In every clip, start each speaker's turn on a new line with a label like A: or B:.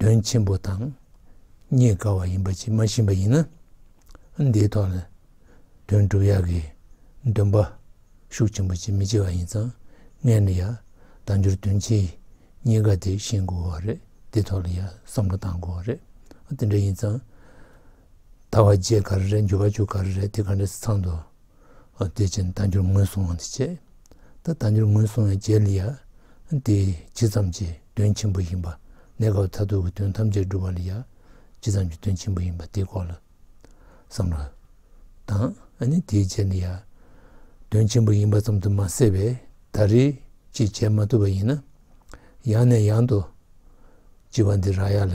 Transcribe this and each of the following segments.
A: དོན་ཆེན་པོ་དང་རྙེད་དཀའ་བ་ཡིན་པ་ཇི་མ་ཤེས་པ་ཡིན་ན་འདིའི་ཐོག་ནས་དོན་གྲུབ་ཡག་གི་འདོན་པ་ཤུགས་ཆེན་པོ་བྱེད་མི་བྱེད་བ་ཡིན་ཙང་ངས་ནི་ཡག་དང་འགྱུར་དོན་ཆེ་རྙེད་དཀའ་དེ་ཤེས་དགོས་བ་རེད་དེའི་ཐོག་ལ་ཡག་བསམ་བློ་གཏང་དགོས་བ་རེད་དེ་འདྲ་ཡིན་ཙང། ཟླ་བ་བརྒྱད་ག་རེ་རེད་འགྱུར་བ་བཅུ་ག་རེ་རེད་དེ་ག་འདྲ་སི་ཚང་དུ་སྡོད་ཅིང་བདག་འགྱུར་ངོས་བཟུང་བ་འདི་བྱེད་ད་བདག་འགྱུར་ངོས་བཟུང་བའི་རྗེས་ལ་ཡ་འདི་ཇི་ཙམ་གྱི་དོན་ཆེན་པོ་ཡིན་པ་གནས་སྐབས་མཐར་ཐུག་གི་དོན་ཐམས་ཅད་འགྲུབ་པ་ལ་ཡ་ཇི་ཙམ་གྱི་དོན་ཆེན་པོ་ཡིན་པ་དེའི་སྐོར་ལ་བསམ་བློ་དང་ནི་དེའི་རྗེས་ལ་ཡ་དོན་ཆེན་པོ་ཡིན་པ་ཙམ་དུ་མ་ཟད་པས་ད་རེས་ཅིག་བྱེད་མ་ཐུབ་པ་ཡིན་ན་ཡང་ནས་ཡང་དུ་བགྱི་བ་འདི་རག་ཡ་ལ།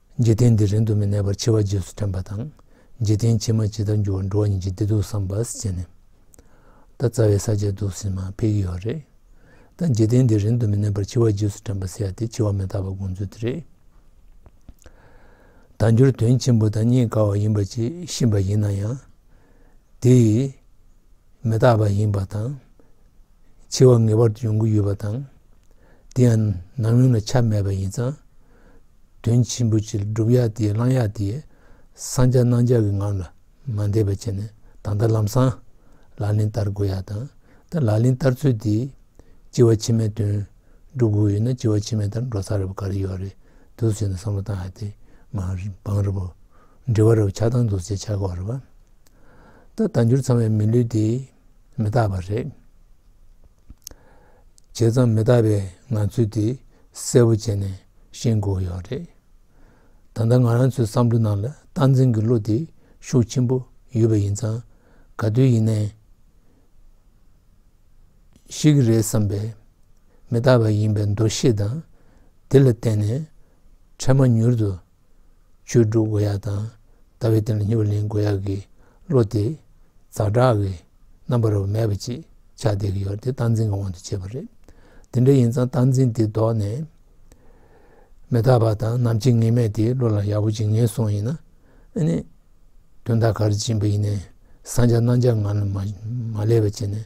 A: འཇིག་རྟེན་འདི་རིང་དུ་མི་གནས་པར་འཆི་བ་རྗེས་སུ་དྲན་པ་དང། འཇིག་རྟེན་ཕྱི་མ་ཇི་ལྟར་འགྱུར་བར་འགྲོ་བ་ཉིད་ཀྱི་བདེ་སྡུག་བསམ་པར་བྱས་ནས། ད་རྩ་བའི་ས་བཅད་དུ་ཟིན་མ་འཕེལ་གྱི་ཡོད་རེད། ད་འཇིག་རྟེན་འདི་རིང་དུ་མི་གནས་པར་འཆི་བ་རྗེས་སུ་དྲན་པ་ཟེར་ཡ་དེ་འཆི་བ་མི་རྟག་པ་དགོངས་ཚུལ་དེ་རེད། ད་འགྱུར་དོན་ཆེན་པོ་དང་རྙེད་དཀའ་བ་ཡིན་པ་ཅིག་ཤེས་པ་ཡིན་ན་ཡང། དེ། མི་རྟག་པ་ཡིན་པ་དང། འཆི་བ་ངེས་པར་དུ་ཡོང་གི་ཡོད་པ་དང། དེ་ཡང་ནམ་ཡོང་ན་ཆ་མེད་པ་ཡིན་ཙང། དོན་ཆེན་པོ་གཅིག་བསྒྲུབ་ཡ་དེ་བླང་ཡ་དེ། སངས་རྒྱ་གནང་བྱ་གི་ངང་ལ་མ་འདས་པ་བྱས་ནས་ད་ལྟ་ལམ་སང་ལག་ལེན་བསྟར་དགོས་ཡ་དང་ད་ལག་ལེན་བསྟར་ཚུལ་དེ། སྤྱི་བ་ཕྱི་མའི་དོན་བསྒྲུབ་དགོས་ཡོད་ན་སྤྱི་བ་ཕྱི་མའི་ལྟར་འགྲོ་ས་རེད་བ་ག་རེ་ཡོད་རེད་འདུག་ཟེར་ནས་བསམ་བློ་བཏང་ཡ་དེ་མ་འབངས་རེད་བ། འབྲེལ་བ་རེད་བ་ཆགས་སྡང་འདུག་ཟེར་ཆགས་གོ་རེད་བ། ད་ལྟ་འགྱུར་ཚང་བའི་མི་ལུས་དེ་མི་རྟག་པ་རེད། བྱས་ཙང་མི་རྟག་པའི་ངང་ཚུལ་དེ་གསལ་བོ་བྱས་ནས་ཤེས་དགོས་ཡོད་རེད། ད་ལྟ་ང་རང་ཚོའི་བསམ་བློའི་ནང་ལ་སྟངས་འཛིན་གྱི་བློ་དེ་ཤུགས་ཆེན་པོ་ཡོད་པ་ཡིན་ཙང་ག་དུས་ཡིན་ནའི། ཤེས་ཀྱི་རེད་བསམ་པའི་མི་རྟག་པ་ཡིན་པའི་འདུ་ཤེས་དང་དེ་ལ་བརྟེན་ནས་འཕྲལ་མ་མྱུར་དུ་ཆོས་དྲུག་དགོས་ཡག་དང་ལྟ་བའི་སྟེང་ལ་སྙིང་བོ་ལེན་དགོས་ཡག་གི་བློ་དེ་ཛག་དྲག་གི་རྣམ་པར་མེད་པ་ཅིག་ཆགས་བསྡད་ཀྱི་ཡོད་དེ་སྟངས་འཛིན་གྱི་དབང་དུ་བྱས་པ་རེད། དེ་འདྲ་ཡིན་ཙང་སྟངས་འཛིན་དེ་ལྡོག་ནས་མེ་ཐག་པ་དང་ནམ་ཕྱེད་ངེས་མེད་དེ་བློ་ལ་ཡག་པོ་ཅིག་ངེས་སོང་ཡིན་ན། དོན་དག་ག་རེ་བྱིན་པ་ཡིན་ནས་བཟང་ཆ་སྣང་ཆ་ངང་ལ་མ་བསླེབས་པ་བྱས་ནས།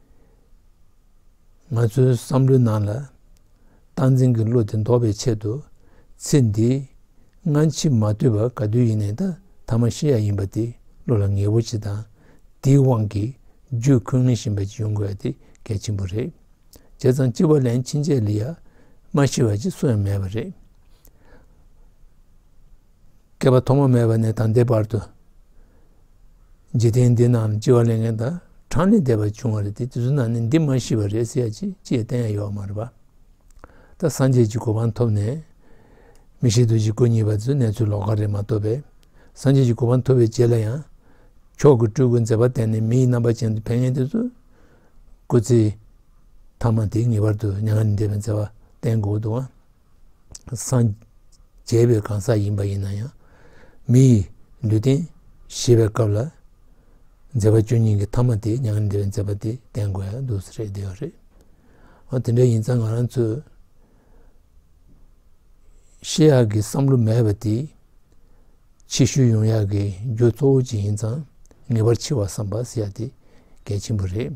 A: ང་ཚོའི་བསམ་བློའི་ནང་ལ་སྟངས་འཛིན་གྱི་གླུ་དེ་འདོགས་པའི་ཆེད་དུ་ཚེ་འདིའི་སྔ་ཕྱི་མ་བསྡུས་པར་ག་དུས་ཡིན་ནས་ད་མ་ཤི་ཡ་ཡིན་པ་དེ་གླུ་ལ་ངེས་པོ་ཅི་དང་དེའི་དབང་གིས་རྒྱུད་འཁོན་ངེས་བཞིན་པ་ཅི་ཡོང་དགོས་ཡ་དེ་གལ་ཆེན་པོ་རེད། བྱས་ཙང་ལྕི་བ་ལན་ཕྱིན་རྗེས་ལི་ཡ་མ་ཤི་བ་ཅི་སུ་ཡང་མེད་པ་རེད། བསྐལ་པ་ཐོག་མ་མེད་པ་ནས་དང་འདས་བར་དུ་འཇིག་རྟེན་འདི་རྣམས་ལྕི་བ་ལས་ངན་དང་གྲང་ནས་འདས་པར་བྱུང་བ་རེད་དེ་དུས་ཚོད་ནང་ནས་འདི་མ་ཤི་བ་རེད་ཟེར་ཡ་ཅི་ཅིའི་གཏན་ཡ་ཡོད་མ་རེད་པ། ད་སངས་རྒྱས་ཀྱི་གོ་འཕང་ཐོབ་ནས་མི་ཤི་དུས་ཀྱི་སྐུ་ཉིད་པ་ཚོའི་གནས་ཚུལ་ལོག་ཀ་རེད་མ་ཐོབ་པས་སངས་རྒྱས་ཀྱི་གོ་འཕང་ཐོབ་པའི་རྗེས་ལ་ཡང་མཆོག་གི་སྤྲུལ་སྐུ་མཛད་པ་བསྟན་ནས་མི་ཡི་རྣམ་པ་ཅན་དུ་ཕན་ངེས་དེ་ཚོས་སྐུ་ཚེ་ཐ་མ་དེ་ངེས་པར་དུ་མྱ་ངན་ལས་འདས་པའི་མཛད་པ་བསྟན་དགོས་འདུག་ཨང། སངས་རྒྱས་པའི་གང་ཟག་ཡིན་པ་ཡིན་ན་ཡང་མི་ཡི་ལུས་རྟེན་བཞེས་པའི་སྐབས་ལ་མཛད་པ་བཅུ་གཉིས་ཀྱི་མཐའ་མ་དེ་མྱ་ངན་འདས་པའི་མཛད་པ་དེ་བསྟན་དགོས་ཡ་འདུག་ཟེར་བསྡད་ཡོད་རེད། འོ་དེ་འདྲ་ཡིན་ཙང་ང་རང་ཚོའི་ཤེས་ཡག་གི་བསམ་བློ་མེད་པ་དེས་ཕྱི་བཤོལ་ཡོང་ཡག་གི་རྒྱུ་གཙོ་བོ་གཅིག་ཡིན་ཙང་ངེས་པར་འཆི་བ་བསམ་པ་ཟེར་ཡ་དེ་གལ་ཆེན་པོ་རེད།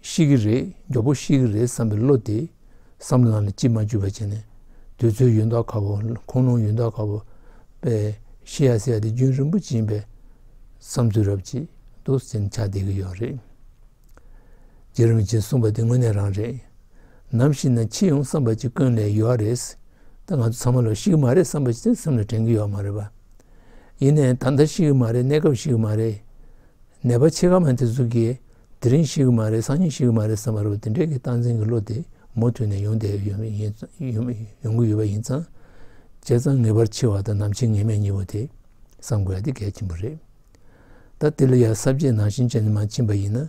A: ཤི་གི་རེད་མགྱོགས་པོ་ཤི་གི་རེད་བསམ་པའི་བློ་དེ་བསམ་བླང་ལ་ཅིས་མ་འཇུས་པ་བྱས་ནས་འདོད་ཚུལ་ཡོན་བདག་ཁ་བོ་ཁོང་ལུང་ཡོན་བདག་ཁ་བོ་པས་ཤི་ཡ་ཟེར་ཡ་དེ་རྒྱུན་རིང་པོ་བྱིན་པའི་བསམ་ཚུལ་རབ་བྱེད་དུ་སེམས་ཆགས་བསྡད་ཀྱི་ཡོད་རེད། རྗེ་རིན་པོ་ཆེས་གསུངས་པ་དེ་དངོས་གནས་རང་རེད། ནམ་ཞིག་ན་འཆི་ཡོང་བསམ་པ་ཅིག་ཀུན་ལས་ཡོད་རེད། ད་ང་ཚོ་ཚང་མ་ལོ་ཤི་གི་མ་རེད་བསམ་པ་ཅིག་སེམས་ལ་དྲན་གྱི་ཡོད་མ་རེད་པ། ཡིན་ནའི་ད་ལྟ་ཤི་གི་མ་རེད་གནས་སྐབས་ཤི་གི་མ་རེད། ནད་པ་ཆེ་ཁ་མ་དེ་ཚོ་དགེ། དེ་རིང་ཞིག་གི་མ་རེད་སང་ཉིན་ཞིག་གི་མ་རེད་བསམ་པ་རེད་འདི་འདྲའི་གི་སྟངས་འཛིན་གི་བློ་དེ་མུ་མཐུད་ནས་ཡོང་བསྡད་ཡོང་གི་ཡོད་པ་ཡིན་ཙང། བྱས་ཙང་ངེས་པར་འཆི་བ་དང་ནམ་འཆི་ངེས་མེད་གཉིས་པོ་དེ་བསམ་དགོས་ཡ་དེ་གལ་ཆེན་པོ་རེད། ད་དེ་ལ་ཡ་གསར་བརྗེའི་ནང་བཞིན་བྱས་ནས་མ་ཕྱིན་པ་ཡིན་ན།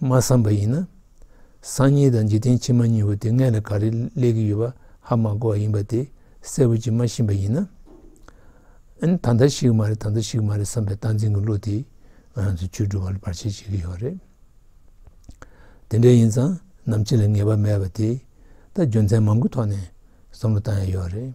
A: མ་བསམ་པ་ཡིན་ན་སང་ཉིན་དང་འཇིག་རྟེན་ཕྱི་མ་གཉིས་པོ་དེ་སྔས་ལ་ག་རེ་སླེབས་ཀྱི་ཡོད་པ་ཧ་མ་གོ་བ་ཡིན་པ་དེ་གསལ་བོ་ཅིག་མ་ཤེས་པ་ཡིན་ན། ད་ལྟ་ཞིག་མ་རེད་ད་ལྟ་ཞིག་མ་རེད་བསམ་པའི་སྟངས་འཛིན་གྱི་བློ་དེས་ང་རང་ཚོའི་ཆོས་སྒྲུབ་པ་ལ་བར་ཆད་བྱེད་ཀྱི་ཡོད་རེད། དེ་འདྲ་ཡིན་ཙང་ནམ་ཕྱེད་ལ་ངེས་པ་མེད་པ་དེ་ད་རྒྱུ་མཚན་མང་པོའི་ཐོག་ནས་བསམ་བློ་བཏང་ཡ་ཡོད་རེད།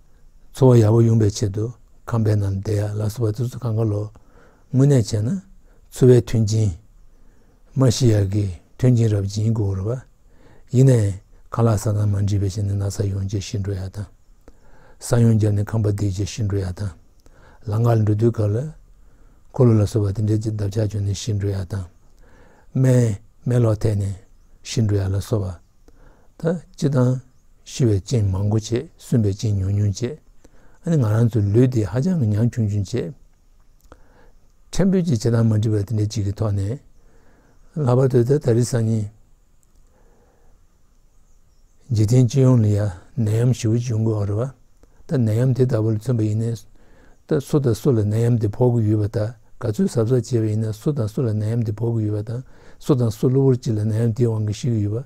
A: འཚོ་བ་ཡག་པོ་ཡོང་པའི་ཆེད་དུ་ཁམས་པའི་ནམ་ཟླའི་ཡར་ལ་སོ་བ་ཙི་ཙུ་གང་ག་ལོ་དངོས་གནས་བྱས་ན་འཚོ་བའི་མཐུན་རྐྱེན་མ་ཤི་ཡར་གྱི་མཐུན་རྐྱེན་རབ་སྦྱིན་གུ་རུ་བ་ཡིན་ནས་ཁ་ལག་ས་ཐང་མ་འདྲིས་པའི་ཞིང་ནས་ན་ས་ཡོང་རྗེས་ཤི་འགྲོ་ཡག་དང་ས་ཡོང་བརྒྱབ་ནས་ཁམས་པ་འདེགས་རྗེས་ཤི་འགྲོ་ཡག་དང་ལང་ཀར་འགྲོ་དུས་གར་ལ་འཁོར་ལོ་ལ་སོ་བ་དེ་འདྲའི་ཅི་འདབ་ཆགས་བྱུང་ནས་ཤི་འགྲོ་ཡག་དང་སྨན་སྨན་ལོག་ཐེག་ནས་ཤི་འགྲོ་ཡག་ལ་སོ་བ་ད་ཅི་དང། ཤི་བའི་རྐྱེན་མང་པོ་བྱེད་སུན་པའི་རྐྱེན་ཉུང་ཉུང་བྱེད། ཨ་ནི་ང་རང་ཚོའི་ལུས་འདི་ཧ་ཅང་གི་ཉང་ཆུང་ཆུང་བྱེད། ཕྲན་བུ་གཅིག་བྱེད་སྟངས་མ་འགྲིག་པ་དེ་འདྲ་གཅིག་གི་ཐོག་ནས། ལྷག་པར་དུ་ད་ད་རི་སང་ཉིན། འཇིག་རྟེན་སྤྱི་ཡོངས་ལ་ཡ་ནད་ཡམས་ཞི་བོ་བྱུང་དགོས་རེད་བ། ད་ནད་ཡམས་དེ་ལྟ་བུ་ལ་མཚོན་པ་ཡིན་ནས། ད་སུ་དང་སུ་ལ་ནད་ཡམས་དེ་ཕོག་གི་ཡོད་བ་དང་ག་ཚོད་གཟབ་གཟབ་བྱས་པ་ཡིན་ནས་སུ་དང་སུ་ལ་ནད་ཡམས་དེ་ཕོག་གི་ཡོད་བ་དང་སུ་དང་སུ་གློ་བུར་གཅིག་ལ་ནད་ཡམས་དེའི་དབང་གིས་ཤི་གི་ཡོད་བ།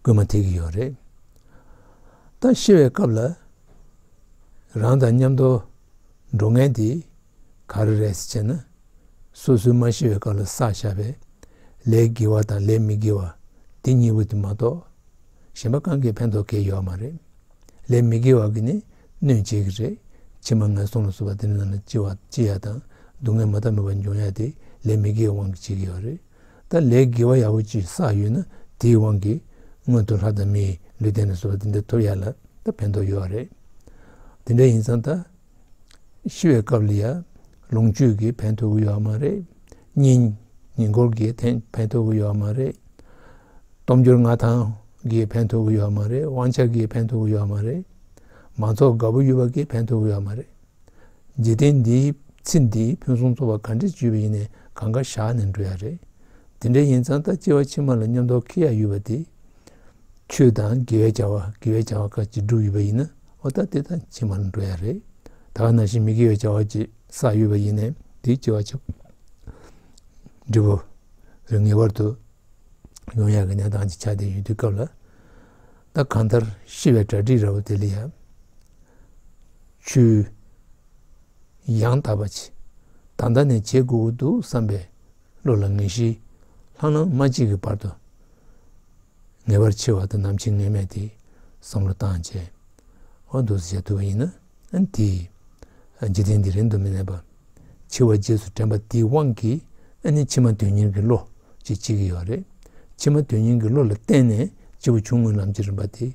A: སྐུལ་མ་ཐེབས་ཀྱི་ཡོད་རེད། ད་ཤི་བའི་སྐབས་ལ་རང་དང་མཉམ་དུ་འགྲོ་མཁན་དེ་ག་རེ་རེད་ཅེ་ན། སོ་སོའི་མ་ཤི་བའི་སྐབས་ལ་བསགས་བཞག་པའི་ལས་དགེ་བ་དང་ལས་མི་དགེ་བ་དེ་གཉིས་པོ་དེ་མ་གཏོགས་གཞན་པ་གང་གིས་ཕན་ཐོགས་ཁེལ་ཡོད་མ་རེད། ལས་མི་དགེ་བ་གིས་ནི་གནོད་བྱེད་ཀྱི་རེད། ཕྱི་མ་ངན་སོང་ལ་སོགས་པ་དེ་རྣམས་ལ་ལྕི་ཡ་དང་སྡུག་བསྔལ་མ་མཐའ་མེད་པ་འབྱུང་ཡ་དེ་ལས་མི་དགེ་བའི་དབང་གིས་བྱེད་ཀྱི་ཡོད་རེད། ད་ལས་དགེ་བ་ཡག་པོ་ཅིག་བསགས་ཡོད་ན་དེའི་དབང་གིས་སྔོན་དུ་ལྷ་དང་མིའི་ལུས་རྟེན་ལ་སོགས་པ་འདི་འདྲ་ཐོབ་ཡག་ལ་ད་ཕན་ཐོགས་ཡོད་བ་རེད། དེ་འདྲ་ཡིན་ཙང་ད་ཤི་བའི་སྐབས་ལ་ཡང་ལོངས་སྤྱོད་ཀྱི་ཕན་ཐོགས་ཡོད་བ་མ་རེད། གཉིས། ཉེན་ཀོར་གྱི་ཕན་ཐོགས་ཡོད་བ་མ་རེད། སྟོབས་འབྱོར་མངའ་ཐང་གི་ཕན་ཐོགས་ཡོད་བ་མ་རེད་དབང་ཆ་གི་ཕན་ཐོགས་ཡོད་བ་མ་རེད། མང་ཚོགས་དགའ་པོ་ཡོད་པ་གི་ཕན་ཐོགས་ཡོད་བ་མ་རེད། འཇིག་རྟེན་འདིའི་ཚེ་འདི་ཕུན་སུམ་ཚོགས་པ་ག་འདྲས་བརྗོད་པ་ཡིན་ནས་གང་ག་བཞག་ནས་འགྲོ་ཡ་རེད། དེ་འདྲས་ཡིན་ཙང་ད་སྐྱེ་བ་ཕྱི་མ་ལ་སྙོམས་འདོགས་ཁེ་ཡག་ཡོད་པ་དེ། ཆོས་དང་དགེ་བའི་བྱ་བ་དགེ་བའི་བྱ་བ་ཁ་ཅིག་བསྒྲུབས་ཡོད་པ་ཡིན་ན་འོ་ད་དེ་དང་ཕྱི་མར་འགྲོ་ཡ་རེད། ད་ག་ན་བཞིན་མི་དགེ་བའི་བྱ་བ་ཅིག་བསགས་ཡོད་པ་ཡིན་ནས་དེའི་སྐྱེ་བ་ཕྱི་འབྲི་བོ་རེ་ངེས་པར་དུ་ཡོང་ཡ་གི་གནས་སྟངས་ཅིག་ཆགས་བསྡད་ཡོད་དུས་སྐབས་ལ། ད་གང་ལྟར་ཤི་བའི་གྲ་སྒྲིག་ར་བ་དེ་ལ་ཡ། ཆུ། ཡང་དག་པ་ཇི་ལྟ་ལྟ་ནས་བྱེད་དགོས་ཀྱི་འདུག་བསམ་པའི་བློ་ལ་ངེས་ཤེས་ལྷང་ལྷང་མ་གཅིག་གི་བར་དུ། ངེས་པར་འཆི་བ་དང་ནམ་འཆི་ངེས་མེད་དེ་བསམ་བློ་བཏང་རྗེས། འོ་འདུག་ཟེར་ཐུབ་པ་ཡིན་ན་དེས་འཇིག་རྟེན་འདི་རིང་དུ་མི་གནས་པ། འཆི་བ་རྗེས་སུ་དྲན་པ་དེའི་དབང་གིས་ནི་ཕྱི་མ་དོན་གཉེར་གྱི་བློ་ཞེས་བྱེད་ཀྱི་ཡོད་རེད། ཕྱི་མ་དོན་གཉེར་གྱི་བློ་ལ་བརྟེན་ནས་འཆི་བ་ཆུང་ངུའི་ལམ་གྱི་རིམ་པ་དེ།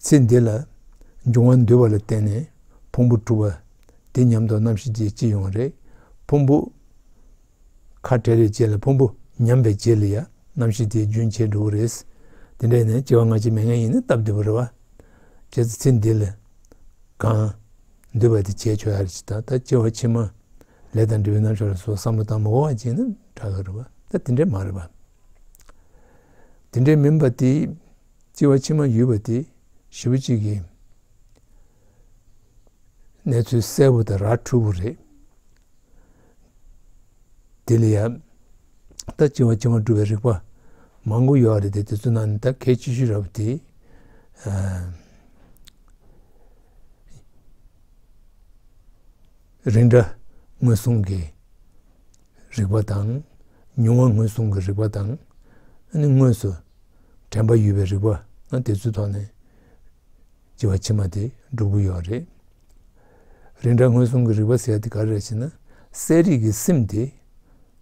A: ཚེ་འདི་ལ་འབྱུང་བ་འདུལ་བ་ལ་བརྟེན་ནས་ཕུང་པོ་གྲུབ་པ་འདི་ཉམས་རྟོགས་རྣམ་ཤེས་ཀྱི་སྤྱི་ཡོངས་རེད། ཕུང་པོ་ཁ་བྲལ་བའི་རྗེས་ལ་ཕུང་པོ་ཉམས་པའི་རྗེས་ལ་ཡང་རྣམ་ཤེས་དེའི་རྒྱུན་ཆད་འགྲོ་བ་རེད། དེ་འདྲ་ཡིན་ན་སྐྱེ་བ་སྔ་ཕྱི་མེད་ངེས་ཡིན་ན་སྟབས་བདེ་བོ་རེད། བྱས་ཙང་ཚེ་འདི་ལ་གང་འདུལ་བ་དེ་བྱས་ཆོག་ཡ་རེད་ཅེས་ད་ལྟ་སྐྱེ་བ་ཕྱི་མ་ལས་དང་འབྲས་བུའི་རྣམ་ཤེས་ལ་སོགས་བསམ་བློ་བཏང་མི་འོང་བ་ཅིག་ནི་འདྲ་གི་རེད། ད་དེ་འདྲ་མ་རེད། དེ་འདྲ་མིན་པ་དེ། ལྕི་བ་ཕྱི་མ་ཡུལ་བ་སྟེ་བཞི་བོ་གཅིག་ཡིན། གནས་ཚུལ་གསལ་བོ་དང་ར་འཕྲུལ་བོ་རེད། དེ་ལ་ཡང་ད་ལྕི་བ་ཕྱི་མ་སྒྲུབ་པའི་རིགས་པ་མང་པོ་ཡོད་རེད་དེ་དེ་ཚོ་ནང་ནས་ད་གལ་ཆེ་ཤོས་ར་བ་དེ། རིགས་འདྲ་ངོས་བཟུང་གི། རིག་པ་དང། མྱོང་བ་ངོས་བཟུང་གི་རིག་པ་དང། དངོས་སུ་དྲན་པ་ཡོད་པའི་རིག་པ། དེ་ཚོའི་ཐོག་ནས་སྐྱེ་བ་ཕྱི་མ་དེ་འགྲུབ་ཀྱི་ཡོད་རེད། རིགས་འདྲ་ངོས་བཟུང་གི་རིག་པ་ཟེར་དེ་ག་རེ་རེད་ཞེ་ན། གསལ་རིག་གི་སེམས་དེ་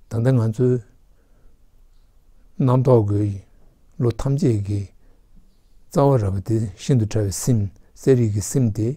A: ད་ལྟ་ང་ཚོའི་རྣམ་རྟོག་གི་ལོ་ཐམས་ཅད་ཀྱི་རྩ་བ་ར་བ་དེ་ཤིན་ཏུ་ཕྲ་བའི་སེམས་གསལ་རིག་གི་སེམས་དེ།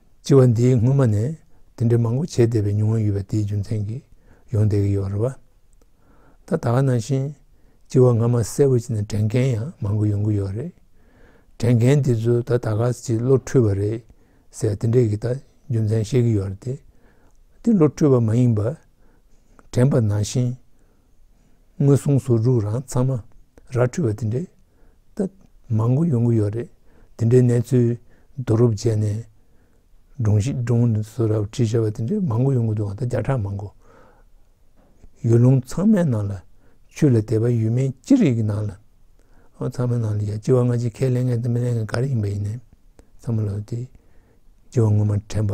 A: སྤྱི་བ་འདིའི་སྔོན་མ་ནས་དེ་འདྲའི་མང་པོ་བྱས་བསྡད་པའི་མྱོང་བ་ཡོད་པ་དེའི་རྒྱུ་མཚན་གྱིས་ཡོང་བསྡད་ཀྱི་ཡོད་རེད་བ། ད་ད་ག་ནང་བཞིན་སྤྱི་བ་སྔ་མ་གསལ་བོ་བྱས་ནས་དྲན་མཁན་ཡང་མང་པོ་ཡོང་གི་ཡོད་རེད། དྲན་མཁན་དེ་ཚོས་ད་ད་ག་ཅིག་བློ་འཁྲུལ་བ་རེད་ཟེར་དེ་འདྲས་ཀྱི་ད་རྒྱུ་མཚན་བཤད་ཀྱི་ཡོད་རེད། དེ་བློ་འཁྲུལ་བ་མ་ཡིན་པར་དྲན་པ་ནང་བཞིན། ངོས་བཟུང་ཟུར་འཇུག་རང་ཚང་མ་ར་འཕྲོད་པ་དེ་འདྲའི་སྟབས་མང་པོ་ཡོང་གི་ཡོད་རེད་དེ་འདྲའི་གནས་ཚུལ་བསྡུ་རུབ་བྱས་ནས་སྒྲུང་གཞི་སྒྲུང་དུ་བཟོ་ར་བྲིས་བྱས་པ་དེ་འདྲའི་མང་པོ་ཡོང་གི་འདུག་ད་བརྒྱ་ཕྲག་མང་པོ་ཡུལ་ལུང་ཚང་མའི་ནང་ལ་ཆུ་ལ་དད་པ་ཡོད་མིན་ཅི་རིགས་ཀྱི་ནང་ལ་ཚང་མའི་ནང་ལ་ཡ་ལྕི་བ་སྔ་ཕྱི་ཁས་ལེན་མཁན་དང་མི་ལེན་མཁན་ག་རེ་ཡིན་པ་ཡིན་ནའི་ཚང་མ་ལ་དེ་ལྕི་བ་ངོ་མ་དྲན་པ་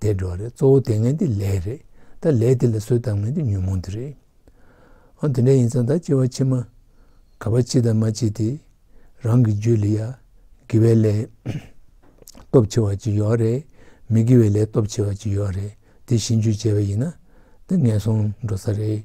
A: དེ་འགྲོ་རེད་གཙོ་བོ་དེ་ངན་དེ་ལས་རེད་ད་ལས་དེ་ལ་བཟོད་དང་མེད་དེ་ཉོན་མོངས་དེ་རེད། ཨང་དེ་འདྲ་ཡིན་ཙང་ད་སྐྱེ་བ་ཕྱི་མ་ག་པ་ཕྱི་དང་མ་ཕྱི་དེ་རང་གི་རྒྱུད་ལ་ཡ་དགེ་བའི་ལས་སྟོབས་ཆེ་བ་ཅིག་ཡོད་རེད་མི་དགེ་བའི་ལས་སྟོབས་ཆེ་བ་ཅིག་ཡོད་རེད་དེ་བཞིན་རྒྱུད་བཅས་པ་ཡིན་ན་ད་ངན་སོང་འགྲོ་ས་རེད།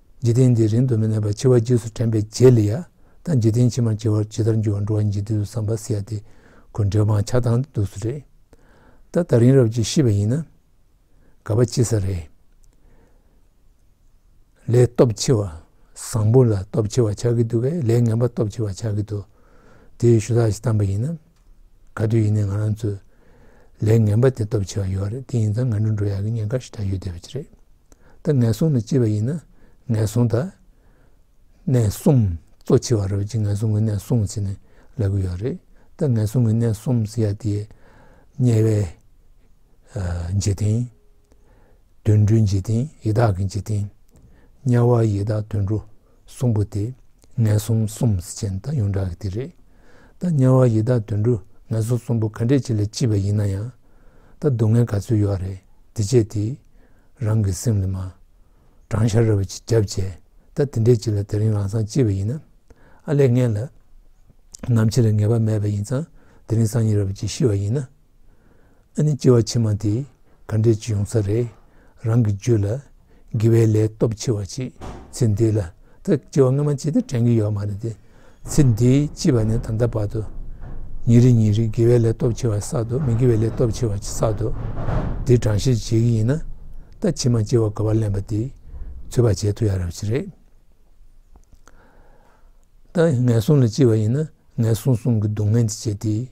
A: འཇིག་རྟེན་འདི་རིང་དུ་མི་གནས་པར་འཆི་བ་རྗེས་སུ་དྲན་པའི་རྗེས་ལ་ཡ་ད་འཇིག་རྟེན་ཕྱི་མར་འཆི་བར་ཇི་ལྟར་འགྱུར་བ་འགྲོ་བ་ཉིད་ཀྱི་དུས་སུ་བསམ་པ་སེ་ཡ་སྟེ་ཁོ་འབྲལ་སྤང་བྱ་དང་དུ་སུ་རེད། ད་ད་རིང་རབ་ཀྱིས་ཤི་བ་ཡིན་ན་དགའ་བ་ཅི་ས་རེད། ལས་སྟོབས་ཆེ་བ་བཟང་པོ་ལ་སྟོབས་ཆེ་བ་ཆགས་ཀྱི་འདུག་པས་ལས་ངན་པ་སྟོབས་ཆེ་བ་ཆགས་ཀྱི་འདུག་དེའི་ཞུ་དག་ཞིག་བཏང་པ་ཡིན་ན། ག་དུས་ཡིན་ནའི་ང་རང་ཚོས་ལས་ངན་པ་དེ་སྟོབས་ཆེ་བ་ཡོད་རེད་དེ་ཡིན་ཙང་ང་ནི་འགྲོ་ཡག་གི་ཉེན་ཁ་ཞིག་ད་ཡོད་བསྡད་པ་ཅི་རེད་ད་ངན་སོང་ནི་ཅི་བ་ཡིན་ན་ངན་སོང་ད་ནས་སོང་གཙོ་ཆེ་བ་རེད་བ་ཅི་ངན་སོང་གི་ནས་སོང་ཟེར་ནས་ལབ་གི་ཡོད་རེད་ད་ངན་སོང་གི་ནས་སོང་ཟེར་ཡ་དེ་དམྱལ་བའི་འཇིག་རྟེན་དུད་འགྲོའི་འཇིག་རྟེན་ཡི་དྭགས་ཀྱི་འཇིག་རྟེན་དམྱལ་བ་ཡི་དྭགས་དུད་འགྲོ། གསུམ་པོ་དེ་ངན་སོང་གསུམ་ཅན་དང་ཡོངས་གྲགས་ཀྱི་དེ་རེད། ད་དམྱལ་བ་ཡི་དྭགས་དུད་འགྲོ་ངན་སོང་གསུམ་པོ་ག་འདྲས་ཅི་ལ་ལྕི་བ་ཡིན་ན་ཡང། ད་སྡུག་བསྔལ་ག་ཚོད་ཡོད་རེད་དེ་བྱས་དེ། རང་གི་སེམས་ལ་མ། བགྲང་བྱ་ར་བ་ཅིག་བརྒྱབ་བྱས་ད་དེ་འདྲས་ཅི་ལ་དེ་རིང་རང་སང་ལྕི་བ་ཡིན་ན། ཨ་ལས་ངན་ལ། ནམ་འཆི་ལ་ངེས་པ་མེད་པ་ཡིན་ཙང་དེ་རིང་སང་ཉིན་ར་བ་ཅིག་ཤི་བ་ཡིན་ན། ཨ་ནི་སྐྱེ་བ་ཕྱི་མ་དེ་ག་འདྲའི་ཅི་ཡོང་ས་རེད་རང་གི་རྒྱུད་ལ་དགེ་བའི་ལས་སྟོབས་ཆེ་བ་ཅིག་ཚེ་འདི་ལ་ད་སྐྱེ་བ་སྔ་མ་ཅིག་དེ་དྲན་གྱི་ཡོད་མ་རེད་དེ་ཚེ་འདི་སྐྱིད་པ་ནས་ད་ལྟ་བར་དུ་ཉིན་རེ་ཉིན་རེ་དགེ་བའི་ལས་སྟོབས་ཆེ་བ་བསགས་འདུག་མི་དགེ་བའི་ལས་སྟོབས་ཆེ་བ་ཅིག་བསགས་འདུག་དེ་དྲང་བཤད་བྱེད་ཀྱི་ཡིན་ན་ད་ཕྱི་མ་སྐྱེ་བ་དགའ་བ་ལེན་པ་དེ་ཚོད་པ་བྱེད་ཐུབ་ཡ་རབས་ཅིག་རེད། ད་ངན་སོང་ལ་སྐྱེ་བ་ཡིན་ན་ངན་སོང་སོང་གི་སྡུག་བསྔལ་འདི་བྱེད་དེ།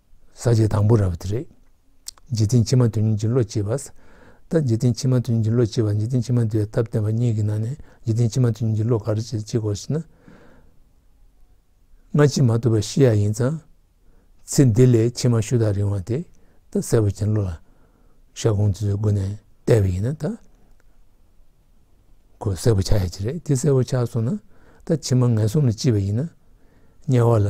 A: ཟ་བྱེད་དང་པོ་ར་བ་དེ་རེད། འཇིག་རྟེན་ཕྱི་མ་དོན་གཉིས་ཀྱི་བློ་སྐྱེས་པ། ལྟ་འཇིག་རྟེན་ཕྱི་མ་དོན་གཉིས་ཀྱི་བློ་སྐྱེས་པ་འཇིག་རྟེན་ཕྱི་མ་འདུལ་བའི་ཐབས་བསྟན་པ་གཉིས་ཀྱི་ནང་ནས་འཇིག་རྟེན་ཕྱི་མ་དོན་གཉིས་ཀྱི་བློ་ག་རེ་སྐྱེ་དགོས་ཞེ་ན། སྔ་ཕྱི་མ་ཐུབ་པ་ཤེས་ཡ་ཡིན་ཙང། ཚེ་འདི་ལས་ཕྱི་མ་ཤུ་དག་རིང་བ་དེ་ད་གསལ་བོ་ཅན་བློ་ལ་ཤར་གོང་དུ་སྒོ་ནས་བལྟས་པ་ཡིན་ན་ད་གོ་གསལ་བོ་ཆགས་ཡ་གྱི་རེད་དེ་གསལ་བོ་ཆགས་སོང་ན་ད་ཕྱི་མ་ངན་སོང་ལ་སྐྱེས་པ་ཡིན་ན་དམྱལ་བ་ལ།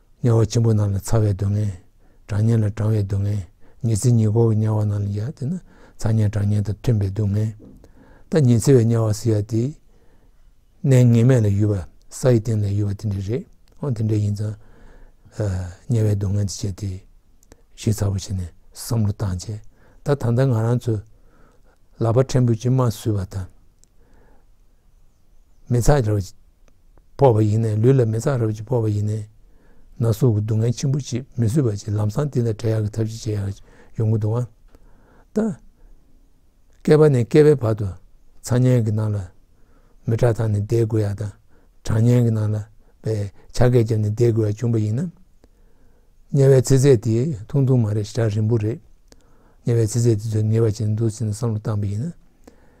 A: དམྱལ་བ་ཆེན་པོ་རྣམས་ལ་ཚ་བའི་སྡུག་བསྔལ། གྲང་དམྱལ་ལ་གྲང་བའི་སྡུག་བསྔལ། ཉི་ཚེ་ཉི་སྒོར་གྱི་དམྱལ་བ་རྣམས་ལ་ཡང་དེ་ནི་ཚ་དམྱལ་གྲང་དམྱལ་དང་མཐུན་པའི་སྡུག་བསྔལ། ད་ཉི་ཚེ་བའི་དམྱལ་བ་ཟེར་བ་དེ། གནས་ངེས་མེད་ལ་ཡུལ་བ་ས་ཡི་སྟེང་ལ་ཡུལ་བ་དེ་འདྲ་རེད། འོན་དེ་འདྲ་ཡིན་ཙང། དམྱལ་བའི་སྡུག་བསྔལ་འདི་ཆེ་སྟེ། ཞེས་ཚ་པོ་བྱས་ནས་བསམ་བློ་བཏང་རྗེས། ད་ད་ལྟ་ང་རང་ཚོས་ལག་པ་ཕྲན་བུས་ཅི་མ་བཟོས་པ་དང། མི་ཚགས་བརྒྱབ། ཕོག་པ་ཡིན་ནས་ལུས་ལ་མི་གཙང་རབ་ཅིག་ཕོག་པ་ཡིན་ནས། ན་ཟུག་གི་སྡུག་བསྔལ་ཆེན་པོ་ཅིག་མི་བཟོད་པ་ཅིག་ལམ་སང་འདི་ལ་བྲལ་ཡག་གི་ཐབས་ཅིག་བྱེད་ཡག་ཡོང་གི་འདུག་ཨང། ད། བསྐལ་པ་ནས་བསྐལ་པའི་བར་དུ་འཚང་སྙན་གྱི་ནང་ལ་མི་ཁྲག་འཐང་ནས་བསྡད་དགོས་ཡག་དང་གྲང་སྙན་གྱི་ནང་ལ་བའི་ཆ་སྐད་བརྒྱབ་ནས་བསྡད་དགོས་ཡག་བྱུང་བ་ཡིན་ན། དམྱལ་བའི་ཚེ་ཚད་དེ་ཐུང་ཐུང་མ་རེད་ཧྲག་རིང་པོ་རེད། དམྱལ་བའི་ཚེ་ཚད་དེ་ཚོས་ངེས་པ་བྱེད་འདུག་ཟེར་ནས་བསམ་བློ་བཏང་པ་ཡིན་ན།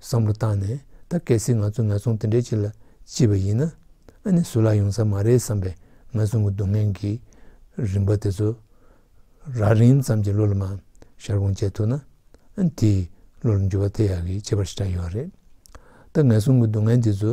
A: བསམ་བློ་བཏང་ནས་ད་གལ་སྲིད་ང་ཚོ་ནག་ཚོང་དེ་འདྲའི་ཅིག་ལ་ལྕི་བ་ཡིན་ན་ཨ་ནི་སུ་ལ་ཡོང་ས་མ་རེད་བསམ་པའི་ནག་ཚོང་གི་སྡུག་བསྔལ་གྱི་རིམ་པ་དེ་ཚོ་རགས་རིམ་ཙམ་གྱི་བློ་ལ་མ་ཤར་གོང་བཅད་ཐུབ་ན་ཨ་ནི་དེས་བློ་ལ་འགྱུར་བ་ཐེབས་ཡག་གི་བྱེད་པར་ཤེས་རྟགས་ཡོད་རེད། ད་ནག་ཚོང་གི་སྡུག་བསྔལ་འདི་ཚོ་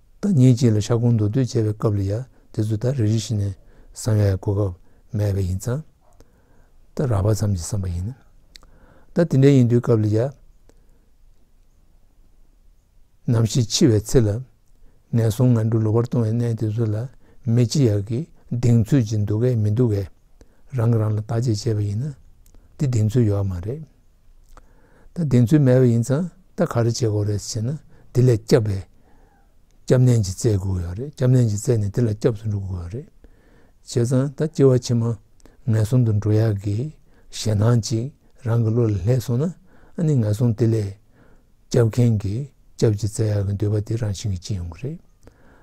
A: བདག་ཉིད་ཀྱིས་ལ་ཤ་ཁུང་མདོར་བསྡུས་བྱེད་པའི་སྐབས་ལ་ཡང་དེ་ཚོ་དག་རེ་རེ་བཞིན་ནས་བསམ་ཡས་གོ་སྐབས་མེད་པ་ཡིན་ཙང། བདག་རགས་པ་ཙམ་གྱིས་བསམ་པ་ཡིན། བདག་དེ་འདྲ་ཡིན་དུས་སྐབས་ལ་ཡང། ནམ་ཞིག་འཆི་བའི་ཚེ་ལ། ངན་སོང་ངན་འགྲོ་ལོག་པར་ལྟུང་བའི་གནས་དེ་ཚོ་ལ་མི་ཅི་ཡག་གི་གདེང་ཚོད་ཅིག་འདུག་གས་མི་འདུག་གས་རང་གིས་རང་ལ་བརྟག་དཔྱད་བྱས་པ་ཡིན་ན། འདི་གདེང་ཚོད་ཡོད་མ་རེད། ད་གདེང་ཚོད་མེད་པ་ཡིན་ཙང་ད་ག་རེ་བྱེད་དགོས་རེད་ཟེར་ན་དེ་ལས་སྐྱབས་པའི་སྐྱབས་གནས་ཀྱི་རྩལ་དགོས་ཡོད་རེད་སྐྱབས་གནས་ཀྱི་རྩལ་ནི་དེ་ལ་སྐྱབས་སུ་འགྲོ་དགོས་ཡོད་རེད་བྱས་ཙང་ད་སྐྱེ་བ་ཕྱི་མ་ངན་སོང་དུ་འགྲོ་ཡག་གི་ཞེད་སྣང་ཅིག་རང་གི་བློ་ལ་ལྷད་སོང་ན་ཨ་ནི་ངན་སོང་དེ་ལས་སྐྱབས་མཁན་གྱི་སྐྱབས་ཀྱི་རྩལ་ཡག་གི་འདོད་པ་དེ་རང་བཞིན་གྱིས་སྐྱེ་ཡོང་གི་རེད་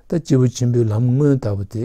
A: ད་སྐྱེས་བུ་ཆེན་པོའི་ལམ་སྔོན་ལྟ་བུ་དེ་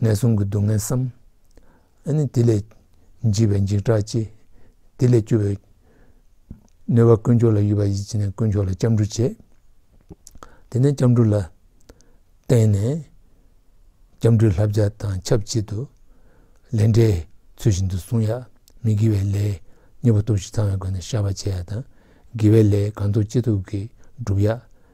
A: ངན་སོང་གི་སྡུག་བསྔལ་བསམ། དེ་ལས་འཇིགས་པའི་འཇིགས་སྐྲག་སྐྱེ། དེ་ལས་སྐྱོ་བའི་གནོད་པ་དཀོན་མཆོག་ལ་གཡོལ་བ་ཡིད་ཆེས་ནས་དཀོན་མཆོག་ལ་སྐྱབས་འགྲོ་བྱེད། དེ་ནས་སྐྱབས་འགྲོ་ལ་བརྟེན་ནས་སྐྱབས་འགྲོའི་ལྷ་བརྒྱ་དང་ཁྱབ་བྱེད་དུ། ལས་འབྲས་ཚུལ་བཞིན་དུ་བསྲུང་ཡ། མི་དགེ་བའི་ལས་གཉིས་པ་སྟོབས་བཞི་ཚང་བའི་སྒོ་ནས་བཤགས་པ་བྱེད་ཡ་དང། དགེ་བའི་ལས་གང་ཐུགས་ཅི་ཐུབ་ཀྱིས་བསྒྲུབ་ཡ།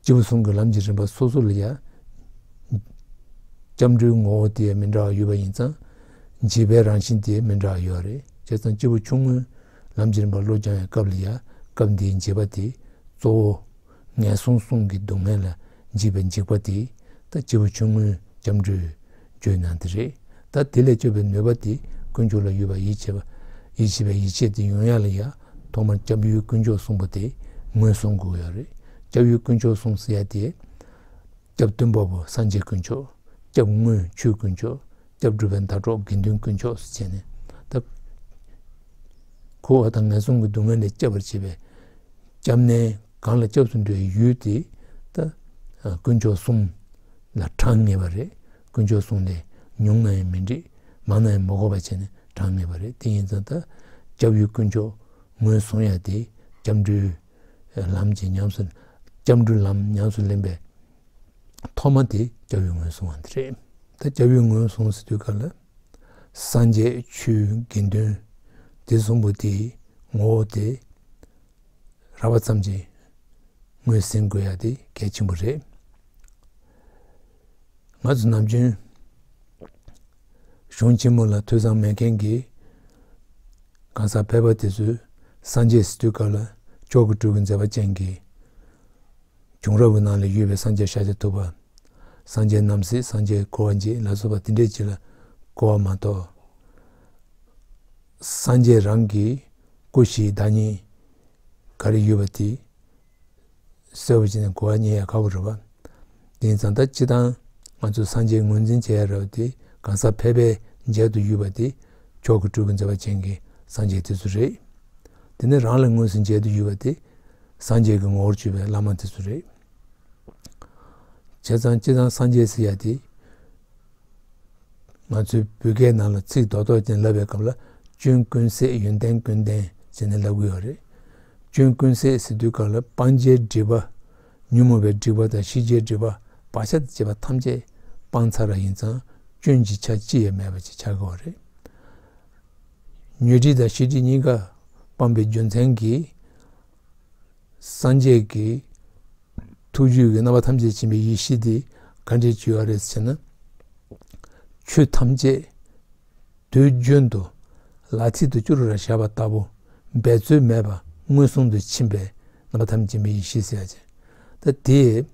A: སྤྱི་བོ་ཟུང་གི་ལམ་གྱི་རིམ་པ་སོ་སོ་ལ་ཡང་སྐྱབས་འགྲོའི་ངོ་བོ་དེ་མི་འདྲ་བ་ཡོད་པ་ཡིན་ཙང་འབྱེད་པའི་རང་བཞིན་དེ་མི་འདྲ་བ་ཡོད་རེད་བྱས་ཙང་སྤྱི་བོ་ཆུང་ངུའི་ལམ་གྱི་རིམ་པ་བློ་སྦྱང་བའི་སྐབས་ལ་ཡང་སྐབས་འདིའི་འབྱེད་པ་དེ་གཙོ་བོ། ངན་སོང་གསུམ་གྱི་སྡུག་བསྔལ་ལ་འཇིགས་པའི་འཇིགས་པ་དེ་དང་སྤྱི་བོ་ཆུང་ངུའི་སྐྱབས་འགྲོའི། བརྗོད་ན་འདི་རེད། ད་དེ་ལས་སྐྱོབ་པའི་ནུས་པ་དེ་དཀོན་མཆོག་ལ་ཡོད་པར་ཡིད་ཆེས་པའི་ཡིད་ཆེས་དེ་ཡོང་ཡ་ལ་ཡང་ཐོག་མར་སྐྱབས་ཡུལ་དཀོན་མཆོག་གསུངས་པ་དེ་ངོས་བཟུང་དགོས་ཡ་རེད། སྐྱབས་ཡུལ་དཀོན་མཆོག་གསུངས་ཟེར་ཡ་དེ། སྐྱབས་སྟོན་པ་པོ་སངས་རྒྱས་དཀོན་མཆོག། སྐྱབས་དངུལ་ཆུའི་དཀོན་མཆོག། སྐྱབས་སྒྲུབ་པའི་ཟླ་གྲོགས་དགེ་འདུན་དཀོན་མཆོག་སུ་བྱས་ནས་ད། ཁོ་བོ་དང་ངན་སོང་གི་སྡུག་བསྔལ་ལས་སྐྱབས་པར་བྱེད་པའི་སྐྱབས་གནས། གང་ལ་སྐྱབས་སུ་འགྲོ་བའི་ཡུལ་དེ་ལྟ། དཀོན་མཆོག་གསུམ་ལ་གྲངས་ངེས་པ་རེད། དཀོན་མཆོག་གསུམ་ལས་ཉུང་ན་ཡང་མི་འགྲིག་མང་ན་ཡང་མི་གོ་བ་བྱས་ནས་གྲངས་ངེས་པ་རེད་དེ་ཡིན་ཙང་ད་སྐྱབས་ཡུལ་དཀོན་མཆོག་ངོས་བཟུང་ཡ་དེ་སྐྱབས་འགྲོའི་ལམ་གྱི་ཉམས་སུ་སྐྱབས་འགྲོའི་ལམ་ཉམས་སུ་ལེན་པའི་ཐོག་མ་དེ་སྐྱབས་ཡུལ་ངོས་བཟུང་བ་འདི་རེད། ད་སྐྱབས་ཡུལ་ངོས་བཟུང་ཟེར་དུས་ག་ལ་སངས་རྒྱས་ཆོས་དགེ་འདུན་སྡེ་གསུམ་པོ་དེའི་ངོ་བོ་དེ་ར་བ་ཙམ་གྱིས་ངོས་ཟིན་དགོས་ཡ་དེ་གལ་ཆེན་པོ་རེད། ང་ཚོ་ནམ་རྒྱུན་གཞུང་ཆེན་མོ་ལ་དུད་ཚང་མེད་མཁན་གྱི་གང་ཟག་ཕལ་པ་དེ་ཚོས་སངས་རྒྱས་སི་ཏུའི་བཀའ་ལ་ཅོག་གི་སྤྲུལ་གི་མཛད་པ་ཅན་གྱི་བྱུང་རབས་ཀྱི་ནང་ལ་ཡོད་པའི་སངས་རྒྱས་ཤཱཀྱ་ཐུབ་པ་སངས་རྒྱས་རྣམ་སྲས་སངས་རྒྱས་འཁོར་བ་འཇིག་ལ་སོགས་པ་དེ་འདྲའི་གཅིག་ལ་གོ་བ་མ་གཏོགས། སངས་རྒྱས་རང་གི་སྐུ་བཞིའི་བདག་ཉིད། ག་རེ་ཡོད་པ་དེ་གསལ་བོ་བྱས་ནས་གོ་བ་རྙེད་ཡ་ག་བོ་རེད་བ། དེ་ནི་བཟའ་ཟླ་སྤྱི་དང་ང་ཚོས་སངས་རྒྱས་ངོས་འཛིན་བྱེད་ཡ་རེད་བ་དེ་གང་ཟག་ཕལ་པའི་མཇལ་དུ་ཡོད་པ་དེ་མཆོག་གི་སྤྲུལ་སྐུ་མཛད་པ་ཅན་གྱི་སངས་རྒྱས་དེ་ཚོ་རེད། དེ་ནི་རང་ལ་དངོས་སུ་མཇལ་དུ་ཡོད་པ་དེ་སངས་རྒྱས་ཀྱི་ངོ་བོར་སྤྱོད་པའི་བླ་མ་དེ་ཚོ་རེད། བྱས་ཙང་ཅི་ཙང་སངས་རྒྱས་ཟེར་ཡ་དེ། ང་ཚོའི་བོད་སྐད་ནང་ལ་ཚིག་རྡོག་རྡོག་ཅན་ལབ་པའི་སྐབས་ལ་སྐྱོན་ཀུན་ཟད་ཡོན་ཏན་ཀུན་ལྡན་ཟེར་ནས་ལབ་གི་ཡོད་རེད། སྐྱོན་ཀུན་ཟད་ཟེར་དུས་སྐབས་ལ་སྤང་བྱའི་སྒྲིབ་པ། ཉོན་མོངས་པའི་སྒྲིབ་པ་དང་ཤེས་བྱའི་སྒྲིབ་པ་བག་ཆགས་དང་བཅས་པ་ཐམས་ཅད་སྤང་ཚར་བ་ཡིན་ཙང་སྐྱོན་གྱི་ཆ་ཅི་ཡང་མེད་པ་ཅིག་ཆགས་ཀྱི་རེད། ཉོན་སྒྲིབ་དང་ཤེས་སྒྲིབ་གཉིས་ཀ་སྤངས་པའི་རྒྱུ་མཚན་གྱིས། སངས་རྒྱས་ཀྱི་ཐུགས་རྒྱུད་ཀྱི་རྣམ་པ་ཐམས་ཅད་འབྱིན་པའི་ཡེ་ཤེས་དེ་ག་འདྲའི་རྒྱུ་བ་རེད་ཟེར་ན། ཆོས་ཐམས་ཅད་དུས་རྒྱུན་དུ་ལ་ཚིག་ཏུ་སྐྱུ་རུ་ར་བྱ་བ་ལྟ་བུ་འབད་རྩོལ་མེད་པར་མངོན་སུམ་དུ་ཕྱིན་པའི་རྣམ་པ་ཐམས་ཅད་འབྱིན་པའི་ཡེ་ཤེས་ཟེར་ཡ། ད་དེས་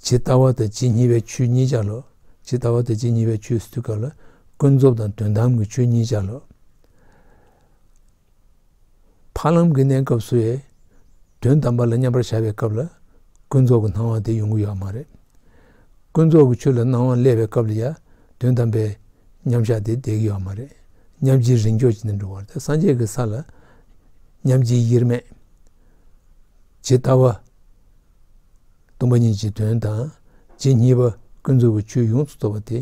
A: ཇི་ལྟ་བ་དང་ཇི་སྙེད་པའི་ཆོས་ཉིད་ཆ་ལོ། ཇི་ལྟ་བ་དང་ཇི་སྙེད་པའི་ཆོས་སུ་ག་ལ། ཀུན་རྫོབ་དང་དོན་དམ་གྱི་ཆོས་ཉིད་ཆ་ལོ། འཕགས་ལམ་གྱི་གནས་སྐབས་སུ་ཡང་དོན་དམ་པ་ལ་མཉམ་པར་བཞག་པའི་སྐབས་ལ་ཀུན་རྫོབ་ཀྱི་སྣང་བ་དེ་ཡོང་གི་ཡོད་མ་རེད། ཀུན་རྫོབ་ཀྱི་ཆོས་ལ་སྣང་བ་སླེབས་པའི་སྐབས་ལ་ཡང་དོན་དམ་པའི་མཉམ་བཞག་དེ་བསྡད་ཀྱི་ཡོད་མ་རེད། མཉམ་རྗེས་རིང་འཇོག་བྱེད་དུ་འགྲོ་བར་ཐལ། སངས་རྒྱས་ཀྱི་ས་ལ་མཉམ་རྗེས་དབྱེར་མེད་ཇི་ལྟ་བ། སྟོང་པ་ཉིད་ཀྱི་དོན་དང་རྗེས་གཉིས་པ་ཀུན་རྫོབ་ཀྱི་ཆོས་ཡོངས་སུ་རྫོགས་པ་དེ།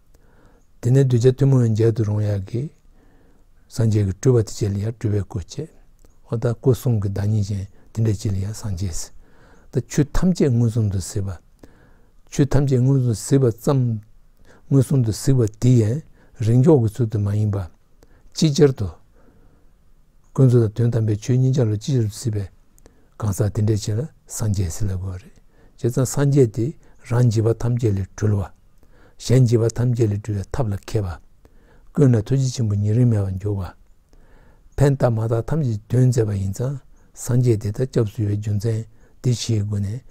A: དེ་ནས་གདུལ་བྱ་ཐུན་མོང་བའི་མཇལ་དུ་རུང་ཡང་གི། སངས་རྒྱས་ཀྱི་སྤྲུལ་པ་དེ་ཅི་ལ་ཡང་སྤྲུལ་བའི་སྐུ་བསྐྱེད། ཨོ་ད་སྐུ་གསུང་གི་བདག་ཉིད་ཅན་དེ་འདྲས་ཅི་ལ་ཡང་སངས་རྒྱས། ད་ཆོས་ཐམས་ཅད་མངོན་སུམ་དུ་གཟིགས་པ། ཆོས་ཐམས་ཅད་མངོན་སུམ་དུ་གཟིགས་པ་ཙམ། མངོན་སུམ་དུ་གཟིགས་པ་དེ་ཡན་རིང་འཇོག་གི་ཚུལ་དུ་མ་ཡིན་པ། ཅིག་ཅར་དུ། ཀུན་རྫོབ་དང་དོན་དམ་པའི་ཆོས་གཉིས་འཇའ་ལུས་ཅི་ཆར་དུ་སྲིད་པའི། གང་ཟག་དེ་འདྲའི་ཆེད་ལ་སངས་རྒྱས་སྲིད་ལ་གོ་བ་རེད། བྱས་ཙང་སངས་རྒྱས་དེ་རང་བགྱིས་པ་ཐམས་ཅད་ལས་གྲོལ་བ། གཞན་བགྱིས་པ་ཐམས་ཅད་ལས་སྒྲོལ་བའི་ཐབས་ལ་མཁས་པ། ཀུན་ལ་ཐུགས་རྗེ་ཆེན་པོ་ཉེ་རིང་མེད་པར་འགྱུར་བ། ཕན་བཏགས་མ་བཏགས་ཐམས་ཅད་དོན་མཛད་པ་ཡིན་ཙང་སངས་རྒྱས་དེ་ལྟར་སྐྱབས་སུ་ཡོད་པའི་རྒྱུ་མཚན་འདི་ཕྱིའི་སྒོ་ནས་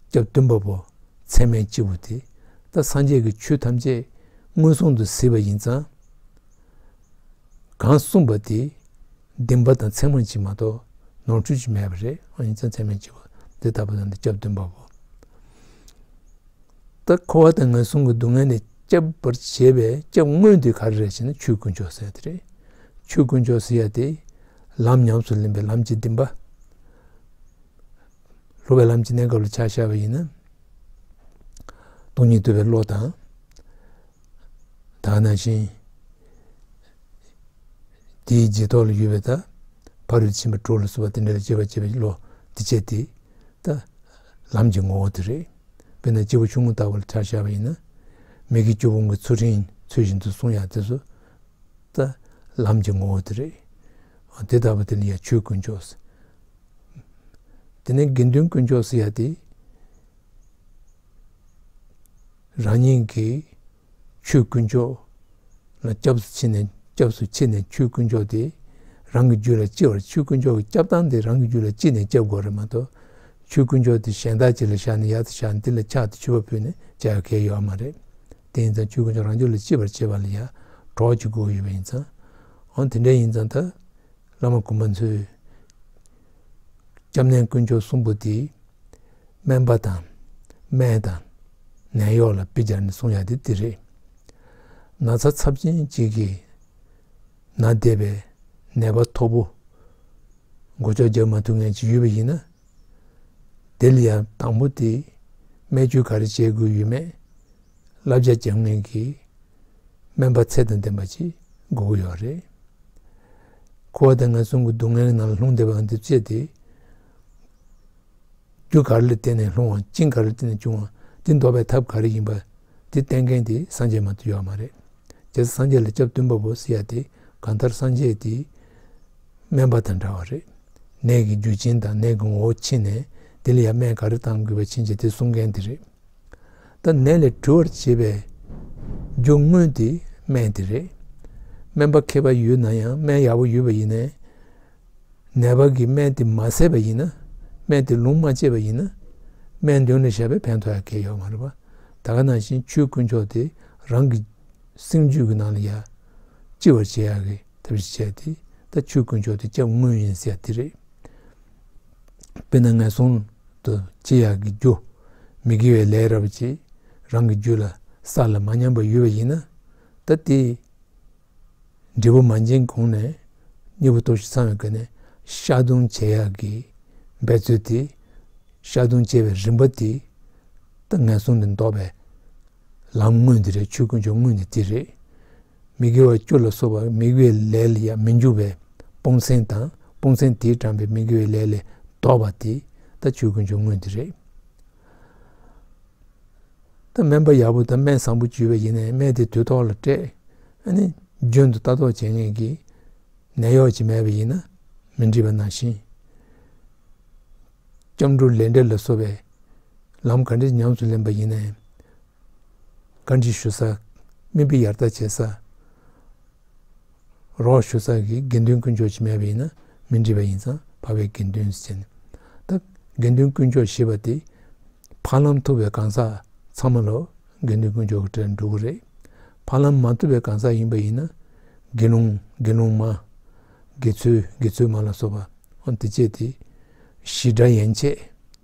A: སྐྱབས་བདུན་པ་པོ་ཚད་མའི་སྤྱི་བོ་དེ་ལྟ་སངས་རྒྱས་ཀྱི་ཆོས་ཐམས་ཅད་མངོན་སུམ་དུ་གཟིགས་པ་ཡིན་ཙང། གང་གསུངས་པ་དེ་བདེན་པ་དང་མཚན་མར་གཅིག་མ་གཏོགས་ནོར་འཁྲུལ་གཅིག་མེད་པ་རེད་ཨང་ཡིན་ཙང་ཚད་མའི་སྤྱི་བོ་འདི་ལྟ་བུ་དང་འདི་སྐྱབས་བདུན་པ་པོ་ལྟ་འཁོར་བ་དང་ངན་སོང་གི་སྡུག་བསྔལ་ནས་སྐྱབས་པར་བྱེད་པའི་སྐྱབས་དངོས་དེ་ག་རེ་རེད་ཅེ་ན་ཆོས་ཀུན་མཆོག་གཟིགས་ཡ་དེ་རེད། ཆོས་ཀུན་མཆོག་གཟིགས་ཡ་དེ་ལམ་ཉམས་སུ་ལེན་པའི་ལམ་གྱི་བདེན་པ། སློབ་པའི་ལམ་གྱི་གནས་སྐབས་ལ་ཕྱག་བྱ་བ་ཡིན་ན། སྟོང་ཉིད་བསྡུ་བའི་བློ་དང། དག་སྣང་ཞིང། དེའི་རྗེས་ཐོགས་ལ་ཡུལ་བའི་དག། ཕ་རོལ་ཕྱིན་པ་དྲུག་ལ་གསོལ་བ་འདི་འདྲ་ལ་སྤྱོད་པ་སྤྱད་པའི་བློ་འདི་སྤྱད་དེ། ད་ལམ་གྱི་ངོ་བོ་དེ་རེད། དཔེར་ན་སྤྱི་བོ་ཆུང་ངུ་ལྟ་བུ་ལ་ཕྱག་བྱ་བ་ཡིན་ན། མིག་གི་རྒྱུ་བོང་གི་ཚུལ་ཁྲིམས་ཚུལ་བཞིན་དུ་བསྲུང་ཡང་དེ་སོ། ད་ལམ་གྱི་ངོ་བོ་དེ་རེད། དེ་ལྟ་བུ་དེ་ལ་ཡང་ཆོས་ཀུན་ཆོས། དེ་ནས་དགེ་འདུན་དཀོན་མཆོག་སི་ཡ་དེས་རང་ཉིད་ཀྱི་ཆོས་དཀོན་མཆོག་ལ་སྐྱབས་སུ་མཆི་ནས་སྐྱབས་སུ་མཆི་ནས་ཆོས་དཀོན་མཆོག་དེ་རང་གི་རྒྱུད་ལ་ལྕི་བར་ཆོས་དཀོན་མཆོག་གི་སྐྱབས་སྟངས་དེ་རང་གི་རྒྱུད་ལ་ལྕི་ནས་སྐྱབས་དགོས་རེད་མ་གཏོགས་ཆོས་དཀོན་མཆོག་དེ་གཞན་དག་ཅིག་ལ་བཞག་ནས་ཡར་དུ་བཞག་ནས་དེ་ལ་ཕྱག་དེ་མཆོད་པ་ཕུལ་ནས་བྱ་ཡག་གལ་ཡོད་མ་རེད། དེ་ཡིན་ཙང་ཆོས་དཀོན་མཆོག་རང་རྒྱུད་ལ་ལྕི་བར་བྱེད་པ་ལ་ཡར་འགྲོགས་བྱེད་དགོས་ཡོད་པ་ཡིན་ཙང། འོན་དེ་འདྲ་ཡིན་ཙང་ད་བླ་མ་དགོན་པ་མཚོའི་སྐྱབས་གནས་དཀོན་མཆོག་གསུམ་པོ་དེ་སྨན་པ་དང་སྨན་དང་ནད་གཡོག་ལ་དཔེ་སྦྱར་ནས་གསུང་ཡག་དེ་འདི་རེད། ན་ཚ་ཚབས་ཆེན་གཅིག་གིས་ན་བདེ་བའི་ནད་པ་མཐོ་པོ་མགོ་ལྕོག་རྒྱག་མ་ཐུབ་ངེས་ཅིག་ཡོད་པ་ཡིན་ན་དེ་ལ་ཡང་དང་པོ་དེ་སྨན་བཅོས་ག་རེ་བྱེད་དགོས་ཡོད་མེད། བསླབ་བྱ་རྒྱག་མཁན་གྱི་སྨན་པ་ཚད་དང་ལྡན་པ་ཞིག་དགོས་ཀྱི་ཡོད་རེད། ཁོ་བ་དང་ངན་སོང་གི་སྡུག་བསྔལ་ནང་ལ་ལྷུང་བསྡད་པའང་འདིར་དཔྱད་དེ། རྒྱུ་ག་རེ་ལ་བརྟེན་ནས་ལྷུང་བ་རྐྱེན་ག་རེ་ལ་བརྟེན་ནས་བྱུང་བ་འདི་འདོར་བའི་ཐབས་ག་རེ་ཡིན་པ་འདི་བསྟན་མཁན་དེ་སངས་རྒྱས་མ་གཏོགས་ཡོད་མ་རེད། རྗེས་སུ་སངས་རྒྱས་ལ་སྐྱབས་སྟོན་པ་པོ་སི་ཡ་དེ་གང་ལྟར་སངས་རྒྱས་དེའི་སྨན་པ་དང་འདྲ་བ་རེད། ནད་ཀྱི་རྒྱུ་ཆེན་དང་ནད་ཀྱི་ངོ་བོ་ཕྱེས་ནས་འདི་ལ་ཡ་སྨན་ག་རེ་གཏང་དགོས་པ་ཕྱིན་ཅི་དེ་གསུང་མཁན་དེ་རེད། ད་ནད་ལས་གྲོལ་བར་བྱེད་པའི་རྒྱུ་དངོས་དེ་སྨན་དེ་རེད། སྨན་པ་མཁས་པ་ཡོད་ན་ཡང་སྨན་ཡག་པོ་ཡོད་པ་ཡིན། ནད་པ་གིས་སྨན་དེ་མ་བཟས་པ་ཡིན། སྨན་དེ་ལུང་མ་བཅད་པ་ཡིན། སྨན་དོན་ལ་བཞག་པའི་ཕན་ཐོགས་ཡང་གལ་ཡོད་མ་རེད་པ། ད་ག་ནང་བཞིན་ཆོས་དཀོན་མཆོག་དེ་རང་གི་སེམས་རྒྱུད་ཀྱི་ནང་ལ་ཡང་ལྕི་བར་བྱེད་ཡག་གི་ཐབས་ཤིག་བྱས་ཏེ་ད་ཆོས་དཀོན་མཆོག་དེ་སྐྱབས་དངོས་ཡིན་ཟེར་ཡག་དེ་རེད། དཔེར་ན་ངན་སོང་དུ་སྐྱེ་ཡག་གི་རྒྱུ། མི་དགེ་བའི་ལས་རབ་ཀྱིས་རང་གི་རྒྱུད་ལ་ས་ལ་མ་ཉམས་པར་ཡོད་པ་ཡིན་ན། ད་ལྟའི་འབྲས་བུ་མ་འབྱིན་གོང་ནས་མྱུར་བུ་ལྟོ་ཞིག་ཚང་བའི་སྒོ་ནས་ཤ་རྡུང་བྱེད་ཡག་གི་འབད་རྩོལ་དེ། ཤ་རྡུང་བྱེད་པའི་རིམ་པ་དེ། ད་ངན་སོང་ནས་ལྡོག་པའི་ལམ་དངོས་འདི་རེད་ཆོས་ཀུན་སྦྱོར་དངོས་ནི་དེ་རེད། མི་དགེ་བ་བཅུ་ལ་སོགས་པ་དམིགས་པའི་ལས་ལ་ཡང་མི་འཇུག་པས་སྤོང་སེམས་དང་སྤོང་སེམས་དེས་དྲངས་པའི་མི་དགེ་བའི་ལས་ལས་བཟློག་པ་དེ་ལྟ་ཆོས་ཀུན་སྦྱོར་དངོས་འདི་རེད། ད་སྨན་པ་ཡག་པོ་དང་སྨན་བཟང་པོ་བཅུས་པ་ཡིན་ནས་སྨན་དེ་དུས་ཐོག་ལ་སྤྲད་ནས་རྒྱུན་དུ་ལྟ་རྟོག་བྱེད་ངེས་ཀྱི་ནད་གཡོག་ཅིག་མེད་པ་ཡིན་ན་མི་འགྲིག་པ་ནང་བཞིན། སྐྱབས་འགྲོ་ལས་འབྲས་ལ་སོགས་པའི་ལམ་ག་འདྲས་ཉམས་སུ་ལེན་པ་ཡིན་ནའི་བཀའ་འདྲི་ཞུ་ས། མི་འབོད་ཡར་ལྟ་བྱེད་ས། རོགས་ཞུ་ས་གི་དགེ་འདུན་དཀོན་མཆོག་ཅིག་མེད་པ་ཡིན་ན་མི་འདྲི་བ་ཡིན་ཙང་བག་བའི་དགེ་འདུན་ཟེར། ད་དགེ་འདུན་དཀོན་མཆོག་ཞེས་པ་དེ་བར་ལམ་ཐུབ་པའི་གང་ཟག་ཚང་མ་ལ་དགེ་འདུན་དཀོན་མཆོག་གི་གྲས་འགྲོ་གི་རེད། བར་ལམ་མ་ཐུབ་པའི་གང་ཟག་ཡིན་པ་ཡིན་ན་དགེ་སློང་དགེ་སློང་མ། དགེ་ཚུལ་དགེ་ཚུལ་མ་ལ་སོགས་པ་འོ་དེ་བཅས་དེ་གཞི་སྒྲ་ཡན་ཆད།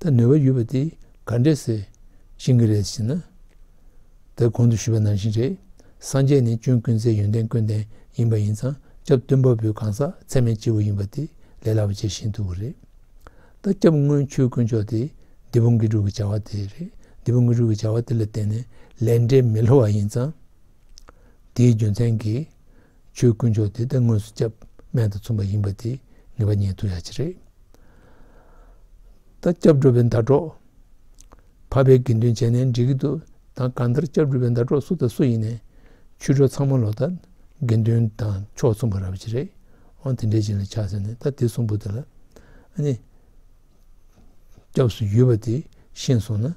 A: ད་ནུས་པ་ཡོད་པ་དེ་ག་འདྲས་ཟེར་བཞིན་གྱི་རེད་ཟེར་ན། ད་གོང་དུ་ཞུས་པ་ནང་བཞིན་རེད། སངས་རྒྱས་ནི་ཅུང་ཀུན་བཟའི་ཡོན་ཏན་ཀུན་ལྡན་ཡིན་པ་ཡིན་ཙང་སྐྱབས་སྟོན་པ་པོའི་གང་ཟག་ཚད་མེད་སྤྱི་བོ་ཡིན་པ་དེ་ལས་སླ་བ་ཇི་བཞིན་དུ་རེད། ད་སྐྱབས་དངོས་ཆོས་དཀོན་མཆོག་དེ་འདི་པོ་འགི་དྲུག་གི་བྱ་བ་དེ་རེད། འདི་པོ་འགི་དྲུག་གི་བྱ་བ་དེ་ལ་བརྟེན་ནས་ལས་འབྲས་མི་ལྷོ་བ་ཡིན་ཙང། དེའི་རྒྱུ་མཚན་གྱིས། ཆོས་དཀོན་མཆོག་དེ་ལྟ་དངོས་སུ་སྐྱབས་སྨན་དང་མཚུངས་པ་ཡིན་པ་དེ་ངེས་པ་ཉིད་དུ་ཡ་ཆེ་རེད། ད་སྐྱབས་འགྲོ་བའི་མདའ་གྲོགས་བར་པའི་དགེ་འདུན་བྱས་ནས་འགྲིག་གི་འདུག་ད་གང་ལྟར་སྐྱབས་འགྲོ་བའི་མདའ་གྲོགས་སུ་དང་སུ་ཡིན་ནས་ཆོས་གྲོགས་ཚང་མ་ལོ་ད་དགེ་འདུན་དང་ཕྱོགས་མཚུངས་པ་ར་བ་ཅི་རེད་ཨང་དེ་འདྲའི་བྱིན་ལ་ཆགས་ཟེར་ནས་ད་དེ་གསུམ་པོ་དེ་ལ་ནི་སྐྱབས་སུ་ཡུལ་བ་དེ་ཤེས་སོང་ན།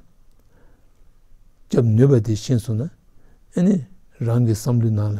A: སྐྱབས་ནུས་པ་དེ་ཤེས་སོང་ན་ཨ་ནི་རང་གི་བསམ་བློའི་ནང་ལ་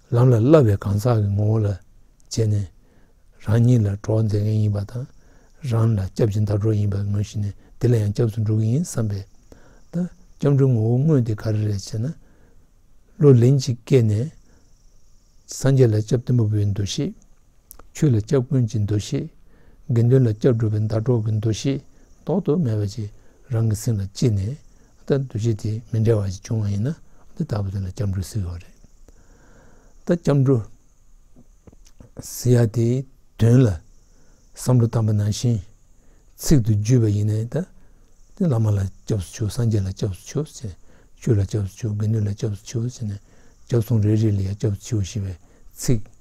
A: ལམ་ལ་བསླབ་པའི་གང་ཟག་གི་ངོ་བོ་ལ་བྱས་ནས་རང་ཉིད་ལ་གྲོགས་མཛད་མཁན་ཡིན་པ་དང་རང་ལ་སྐྱབས་ཀྱི་ཟླ་གྲོགས་ཡིན་པར་ངོས་བཞེས་ནས་དེ་ལ་ཡང་སྐྱབས་སུ་འགྲོ་གི་ཡིན་བསམ་པས། ད་སྐྱབས་འགྲོའི་ངོ་བོ་དངོས་དེ་ག་རེ་རེད་ཅེ་ན། བློ་ལན་གཅིག་སྐྱེས་ནས་སངས་རྒྱས་ལ་སྐྱབས་བསྟེན་པ་པོའི་འདུ་ཤེས། ཆོས་ལ་སྐྱབས་ཀུན་གྱི་འདུ་ཤེས། དགེ་འདུན་ལ་སྐྱབས་སྒྲུབ་པའི་ཟླ་གྲོགས་ཀྱི་འདུ་ཤེས་ལྡོག་ཏུ་མེད་པ་ཅིག་རང་གི་སེམས་ལ་སྐྱེས་ནས། ད་འདུ་ཤེས་དེ་མི་འདྲ་བ་ཞིག་བྱུང་བ་ཡིན་ན། འདི་ལྟ་བུ་དེ་ལ་སྐྱབས་འགྲོ་ཟེར་བ་རེད། ད་སྐྱབས་འགྲོ་ཟེར་ཡ་དེའི་དོན་ལ་བསམ་བློ་བཏང་པ་ནང་བཞིན་ཚིག་ཏུ་བརྗོད་པ་ཡིན་ནས། ད་བླ་མ་ལ་སྐྱབས་སུ་ཆུག་སངས་རྒྱས་ལ་སྐྱབས་སུ་ཆུག་ཟེར། ཆོས་ལ་སྐྱབས་སུ་ཆུག་དགེ་འདུན་ལ་སྐྱབས་སུ་ཆུག་ཟེར་ནས། སྐྱབས་སོང་རེ་རེ་ལ་ཡང་སྐྱབས་སུ་ཆུག་ཞེས་པའི་ཚིག་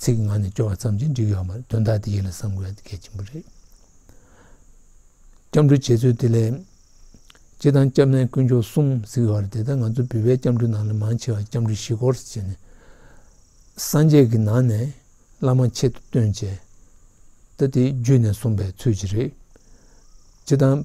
A: ཚིག་ངག་ནས་སྐྱོ་བ་ཙམ་གྱིས་འགྲིག་ཡོད་མ་རེད་དོན་དག་འདི་ཡིད་ལ་བསམ་དགོས་ཡ་གལ་ཆེན་པོ་རེད། སྐྱབས་འགྲོའི་བྱེད་རྩོལ་དེ་ལས། སྤྱི་དང་སྐྱབས་གནས་དཀོན་མཆོག་གསུམ་གཟིགས་ཡོད་རེད་དེ་ལྟར་ང་ཚོ་བི་བའི་སྐྱབས་འགྲོའི་ནང་ལས་མང་ཆེ་བ་སྐྱབས་འགྲོ་བཞི་སྐོར་བྱས་ནས་སངས་རྒྱས་ཀྱི་ནང་ནས་བླ་མ་ཆེད་དུ་སྟོན་བྱས། ད་དེ་བརྒྱུད་ནས་གསུངས་པའི་ཚུལ་གྱིས་རེད། སྤྱི་དང།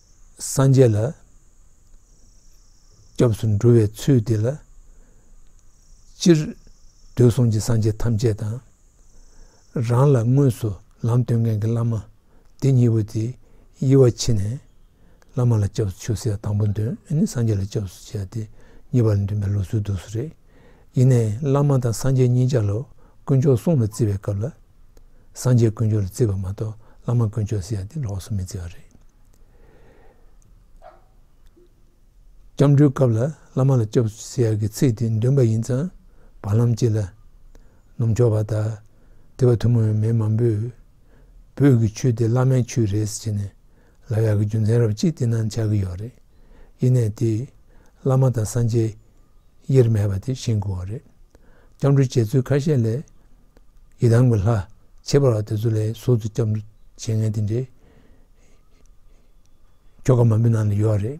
A: སངས་རྒྱས་ལ་སྐྱབས་སུ་འགྲོ་བའི་ཚུལ་འདི་ལ། སྤྱིར་འདོད་གསུང་གི་སངས་རྒྱས་ཐམས་ཅད་དང། རང་ལ་དངོས་སུ་ལམ་སྟོན་མཁན་གྱི་བླ་མ་སྡེ་གཉིས་པོ་དེ་དབྱེ་བ་ཕྱེ་ནས། བླ་མ་ལ་སྐྱབས་སུ་ཆུད་ཟེར་དང་པོ་འདོད་ནི་སངས་རྒྱས་ལ་སྐྱབས་སུ་བཅས་ཏེ་ངེས་པར་འདུན་པའི་ལོ་ཚོད་དུ་སུ་རེད། ཡེ་ནས་བླ་མ་དང་སངས་རྒྱས་གཉིས་ཆར་ལོ་དཀོན་མཆོག་གསུང་ལ་བརྩི་བའི་སྐབས་ལ། སངས་རྒྱས་དཀོན་མཆོག་ལ་བརྩི་བ་མ་གཏོགས་བླ་མ་དཀོན་མཆོག་ཟེར་ཡག་འདི་ལོགས་སུ་མི་བརྩི་བ་རེད། སྐྱབས་འགྲོའི་སྐབས་ལ་བླ་མ་ལ་སྐྱོབ་ཟེར་ཡག་གི་ཚིག་དེ་འདོན་པ་ཡིན་ཙང་བར་ལམ་གཅིག་ལ། ནུབ་ཕྱོགས་པ་དག་དེ་བ་ཐུན་མོང་ཡོད་མེད་མང་པོས་བོད་ཀྱི་ཆོས་དེ་བླ་མའི་ཆོས་རེད་ཟེར་ནས། ལ་ཡག་གི་རྒྱུ་མཚན་རབ་གཅིག་བསྟི་གནང་བྱ་གི་ཡོད་རེད། ཡེ་ནས་དེ། བླ་མ་དང་སངས་རྒྱས། དབྱེར་མེད་པ་དེ་བཞེངས་དགོས་བ་རེད། སྐྱབས་འགྲོ་བྱེད་ཚུལ་ཁ་ཤས་ལས། ཡི་དམ་གྱི་ལྷ། ཁྱད་པར་བ་དེ་ཚོ་ལས་ཟུར་དུ་སྐྱབས་འགྲོ་བྱེད་མཁན་དེ་འདྲའི། ཁྱོ་ག་མང་པོའི་ནང་ལ་ཡོད་རེད།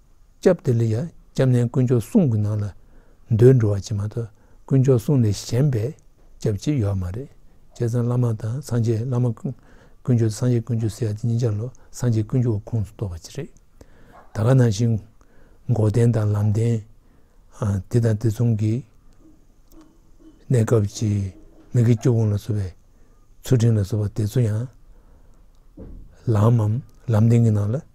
A: སྐྱབས་དེ་ལ་ཡང་སྐྱབས་གནས་དཀོན་མཆོག་གསུམ་གྱི་ནང་ལ་འདོད་འགྲོ་བ་ཅན་མ་གཏོགས་དཀོན་མཆོག་གསུམ་ལས་གཞན་པའི་སྐྱབས་ཅིག་ཡོད་མ་རེད། བྱས་ཙང་བླ་མ་དང་སངས་རྒྱས་བླ་མ་དཀོན་མཆོག་དང་སངས་རྒྱས་དཀོན་མཆོག་ཟེར་ཡ་དེ་གཉིས་ཆ་ལོ་སངས་རྒྱས་དཀོན་མཆོག་གི་ཁོངས་སུ་གཏོགས་པ་ཅིག་རེད། ད་ག་ནང་བཞིན་མགོ་བསྟན་དང་ལམ་བསྟན་དེ་དང་དེ་མཚུངས་ཀྱི་གནས་སྐབས་ཀྱི་མི་དགེ་བཅུ་སྤོང་ལ་བཟོ་བའི་ཚུལ་ཁྲིམས་ལ་བཟོ་བ་དེ་ཚོ་ཡང་ལམ་མམ་ལམ་བསྟན་གྱི་ནང་ལ་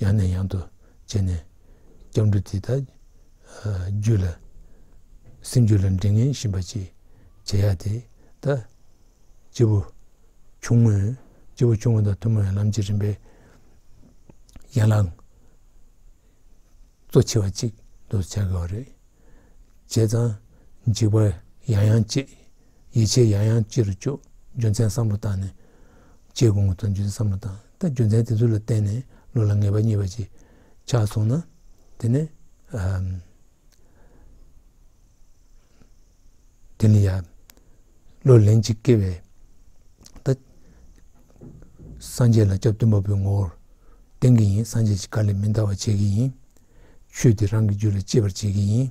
A: ཡང་ནས་ཡང་དུ་བྱས་ནས་སྐྱབས་འགྲོ་དེ་དག་རྒྱུད་ལ་སེམས་རྒྱུད་ལ་འདྲེ་ངན་བཞིན་པ་ཅིག་བྱེད་ཡ་དེ་ད་སྐྱེས་བུ་ཆུང་ངུས་སྐྱེས་བུ་ཆུང་ངུ་དང་ཐུན་མོང་བའི་ལམ་གྱི་རིམ་པའི་ཡན་ལག་གཙོ་ཆེ་བ་ཅིག་ཏུ་བྱ་དགོས་པ་རེད། བྱས་ཙང་འཇིགས་པ་ཡང་ཡང་སྐྱེ་ཡིད་ཆེས་ཡང་ཡང་སྐྱེ་རུ་བཅུག་རྒྱུ་མཚན་བསམ་བློ་བཏང་ནས་སྐྱེས་དགོས་ངོ་ཐང་རྒྱུ་མཚན་བསམ་བློ་བཏང། ད་རྒྱུ་མཚན་དེ་ཚོ་ལ་བརྟེན་ནས་བློ་ལ་ངེས་པ་གཉིས་པ་ཅིག་ཆགས་སོང་ན། དེ་ནི། དེ་ནི་ཡང་བློ་ལན་གཅིག་སྐྱེས་པས། ད་སངས་རྒྱས་ལ་སྐྱབས་སྟོན་པ་པོའི་ངོ་བོར་བསྟན་གྱི་ཡིན་སངས་རྒྱས་ཀྱི་བཀའ་ལས་མི་འདའ་བར་བྱེད་ཀྱི་ཡིན། ཆོས་འདི་རང་གི་རྒྱུད་ལ་གཅེས་པར་བྱེད་ཀྱི་ཡིན།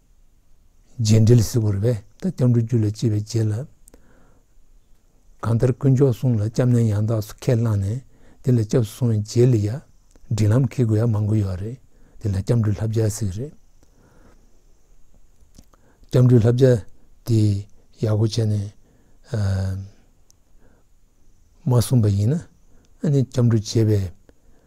A: རྗེས་འབྲེལ་གཟིགས་བར་བས་ད་སྐྱབས་འགྲོ་རྒྱུད་ལ་སྐྱེས་པའི་རྗེས་ལ། གང་ལྟར་དཀོན་མཆོག་གསུང་ལ་སྐྱབས་གནས་ཡང་དག་སུ་ཁས་བླངས་ནས་འདི་ལ་སྐྱབས་སུ་སོང་བའི་རྗེས་ལ་ཡ། འབྲིང་ལམ་ཁེལ་དགོས་ཡ་མང་པོ་ཡོད་རེད་འདི་ལ་སྐྱབས་འགྲོའི་ལྷ་བརྒྱ་ཟེར་གི་རེད། སྐྱབས་འགྲོའི་ལྷ་བརྒྱ་དེ་ཡག་པོ་བྱས་ནས་མ་གསུངས་པ་ཡིན་ན་ཨ་ནི་སྐྱབས་འགྲོ་བྱེད་པའི་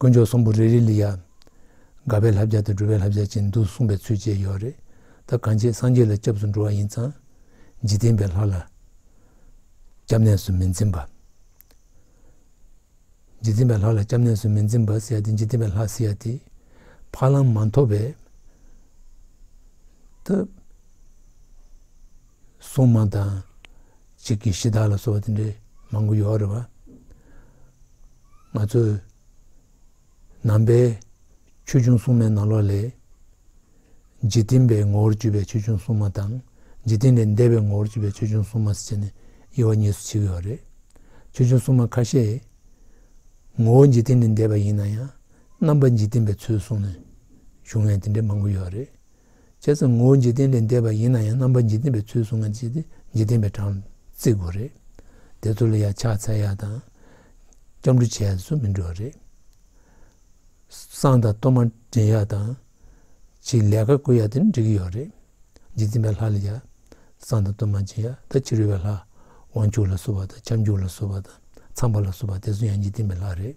A: དཀོན་མཆོག་གསུམ་པོ་རེ་རེ་ལ་ཡང་དགའ་བའི་ལྷ་བརྒྱ་དང་སྒྲོལ་བའི་ལྷ་བརྒྱ་བཅས་འདུག་གསུངས་པའི་ཚུལ་བཅས་ཡོད་རེད་ད་གང་བྱེད་སངས་རྒྱས་ལ་སྐྱབས་སུ་འགྲོ་བ་ཡིན་ཙང་འཇིག་རྟེན་པའི་ལྷ་ལ་སྐྱབས་གནས་སུ་མི་འཛིན་པ། འཇིག་རྟེན་པའི་ལྷ་ལ་སྐྱབས་གནས་སུ་མི་འཛིན་པ་ཟེར་ཡ་དེ་འཇིག་རྟེན་པའི་ལྷ་ཟེར་ཡ་དེ་ཕ་ལམ་མ་འཐོབ་པའི་ད་སྲུང་མ་དང། གཅིག་གིས་གཞི་བདག་ལ་སོགས་པ་དེ་འདྲའི་མང་པོ་ཡོད་རེད་བ། ང་ཚོས་ནང་པའི་ཆོས་འབྱུང་སྲུང་མའི་ནང་ལོགས་ལས། འཇིག་རྟེན་པའི་ངོ་བོར་གྱུར་པའི་ཆོས་འབྱུང་སྲུང་མ་དང་འཇིག་རྟེན་ལས་འདས་པའི་ངོ་བོར་གྱུར་པའི་ཆོས་འབྱུང་སྲུང་མ་ཟེར་ནས་དབྱེ་བ་གཉིས་སུ་ཕྱེ་གི་ཡོད་རེད། ཆོས་འབྱུང་སྲུང་མ་ཁ་ཤས་ངོ་བོ་འཇིག་རྟེན་ལས་འདས་པ་ཡིན་ན་ཡང་རྣམ་པ་འཇིག་རྟེན་པའི་ཚུལ་བཟུང་ནས་བྱུང་བའི་དེ་འདྲའི་མང་པོ་ཡོད་རེད། བྱས་ཙང་ངོ་བོ་འཇིག་རྟེན་ལས་འདས་པ་ཡིན་ན་ཡང་རྣམ་པ་འཇིག་རྟེན་པའི་ཚུལ་བཟུང་ན་འཇིག་རྟེན་པའི་གྲངས་བརྩི་དགོས་རེད། དེ་ཚོ་ལ་ཡང་ཕྱག་འཚལ་ཡག་དང། སྐྱབས་འགྲོ་བྱས་སུ་མི་འགྲོ་བ་རེད། གསང་དང་གཏོར་མ་འདྲེན་ཡག་དང། ཕྱིའི་ལས་ཀ་བསྐོས་ཡག་དེ་ནི་འགྲིག་གི་ཡོད་རེད། འཇིག་རྟེན་པའི་ལྷ་ལ་ཡང་གསང་དང་གཏོར་མ་སྦྱིན་ཡག་ད་ཕྱི་རོལ་བའི་ལྷ། དབང་ཕྱུག་ལ་བསུ་བ་དང་ཁྱབ་འཇུག་ལ་བསུ་བ་དང་ཚངས་པ་ལ་བསུ་བ་དེ་ཚོ་ཡང་འཇིག་རྟེན་པའི་ལྷ་རེད།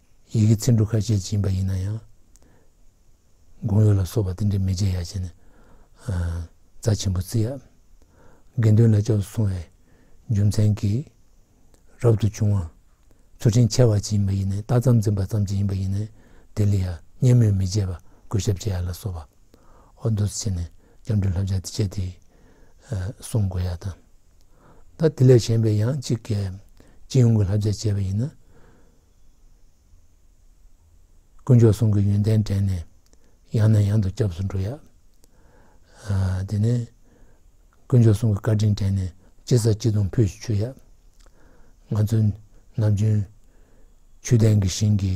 A: ཡི་གེ་ཚིག་འབྲུ་ཁ་ཤས་སྦྱིན་པ་ཡིན་ན་ཡང། དགུང་ཡོལ་ལ་སོགས་པ་དེ་འདྲའི་མི་བྱེད་ཡ་བྱས་ནས། རྩ་ཆེན་པོ་བརྩི། དགེ་འདུན་ལ་སྤྱོད་དུ་སོང་བའི་རྒྱུ་མཚན་གྱིས། རབ་ཏུ་བྱུང་བ། ཚུལ་ཁྲིམས་འཆལ་བ་བྱེད་ཡིན་པ་ཡིན་ནས་ལྟ་ཙམ་འཛིན་པ་ཙམ་གྱིས་ཡིན་པ་ཡིན་ནས་དེ་ལ་ཡང་བརྙས་སྨོད་མི་བྱེད་པ་གུས་ཞབས་བྱེད་ཡ་ལ་སོགས་པ། ཨོ་འདོད་བྱས་ནས་སྐྱབས་འགྲོའི་ལྷ་བྱ་སྤྱད་དེ། བསྲུང་དགོས་ཡ་དང། ད་དེ་ལས་གཞན་པའི་ཡང་གཅིག་གལ། སྤྱི་ཡོངས་ཀྱི་ལྷ་བྱ་སྤྱད་པ་ཡིན་ན། དཀོན་མཆོག་གསུམ་གྱི་ཡོན་ཏན་དྲན་ནས། ཡང་ནས་ཡང་དུ་སྐྱབས་སུ་འགྲོ་ཡ། དེ་ནས། དཀོན་མཆོག་གསུམ་གྱི་བཀའ་དྲིན་དྲན་ནས། ཅི་བསགས་ཅི་འཐུང་ཕུལ་ཞིག་མཆོད་ཡ། ང་ཚོའི་ནམ་རྒྱུན། ཆོས་ལྡན་གྱི་ཞིང་གི།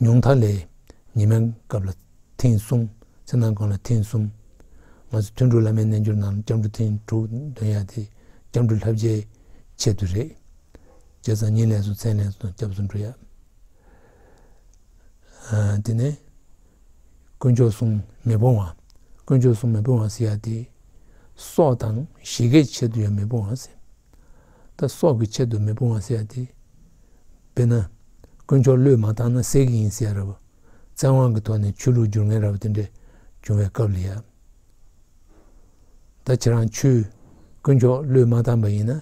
A: ཉུང་མཐའ་ལས་ཉི་མའི་སྐབས་ལ་ཐེངས་གསུམ་ཚེ་ནང་སྐབས་ལ་ཐེངས་གསུམ། ང་ཚོ་ཐུན་དྲུག་བླ་མའི་རྣལ་འབྱོར་ནང་སྐྱབས་འགྲོ་ཐེངས་དྲུག་འདོན་ཡ་དེ་སྐྱབས་འགྲོ་ལྷ་བརྒྱའི་ཆེད་དུ་རེད། རྗེས་སང་ཉིན་ལས་སུ་མཚན་ལས་སུ་དང་སྐྱབས་སུ་འགྲོ་ཡ། དེ་ནས་དཀོན་མཆོག་སྲུང་མེ་སྤོང་བ། དཀོན་མཆོག་སྲུང་མེ་སྤོང་བ་ཟེར་ཡ་དེ། སྲོག་དང་བཞི་གའི་ཆེད་དུ་ཡང་མེ་སྤོང་བ་ཟེར། ད་སྲོག་གི་ཆེད་དུ་མི་སྤོང་བ་ཟེར་ཏེ། དཔེར་ན། དཀོན་མཆོག་བློས་མ་བཏང་ན་ཟས་ཀྱི་ཡིན་ཟེར་རབ། བཙན་དབང་གི་ཐོག་ནས་ཆོས་ལུགས་སྒྱུར་ངན་རབ་དེ་འདྲས་བྱུང་བའི་སྐབས་ལ་ཡབ། ད་ཁྱེད་རང་ཆོས། དཀོན་མཆོག་བློས་མ་བཏང་པ་ཡིན་ན།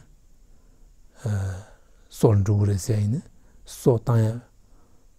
A: སྲོག་ལ་འགྲོ་གི་རེད་ཟེར་ཡིན་ན་སྲོག་བཏང་ཡ།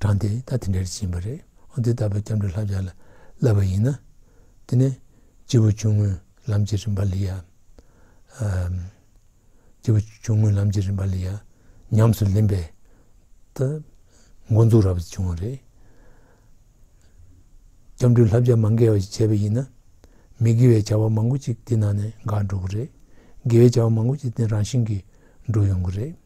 A: གྲངས་དེ་ད་དེ་འདྲར་ཕྱིན་པ་རེད་འོན་ཏེ་ད་བར་སྐྱབས་འགྲོ་ལྷ་བྱ་ལ་བསླབས་པ་ཡིན་ན། དེ་ནས་སྤྱི་བོ་ཆུང་ངུའི་ལམ་གྱི་རིམ་པ་ལས་ཡ། སྤྱི་བོ་ཆུང་ངུའི་ལམ་གྱི་རིམ་པ་ལས་ཡ། ཉམས་སུ་ལེན་པའི། ད། འགོ་འཛུགས་རབ་ཏུ་བྱུང་བ་རེད། སྐྱབས་འགྲོའི་ལྷ་བྱ་མ་འགལ་བ་ཞིག་བྱས་པ་ཡིན་ན། མི་དགེ་བའི་བྱ་བ་མང་པོ་ཅིག་དེ་ནང་ནས་འགག་འགྲོ་གི་རེད། དགེ་བའི་བྱ་བ་མང་པོ་ཅིག་དེ་རང་བཞིན་གྱིས་འགྲོ་ཡོང་གི་རེད།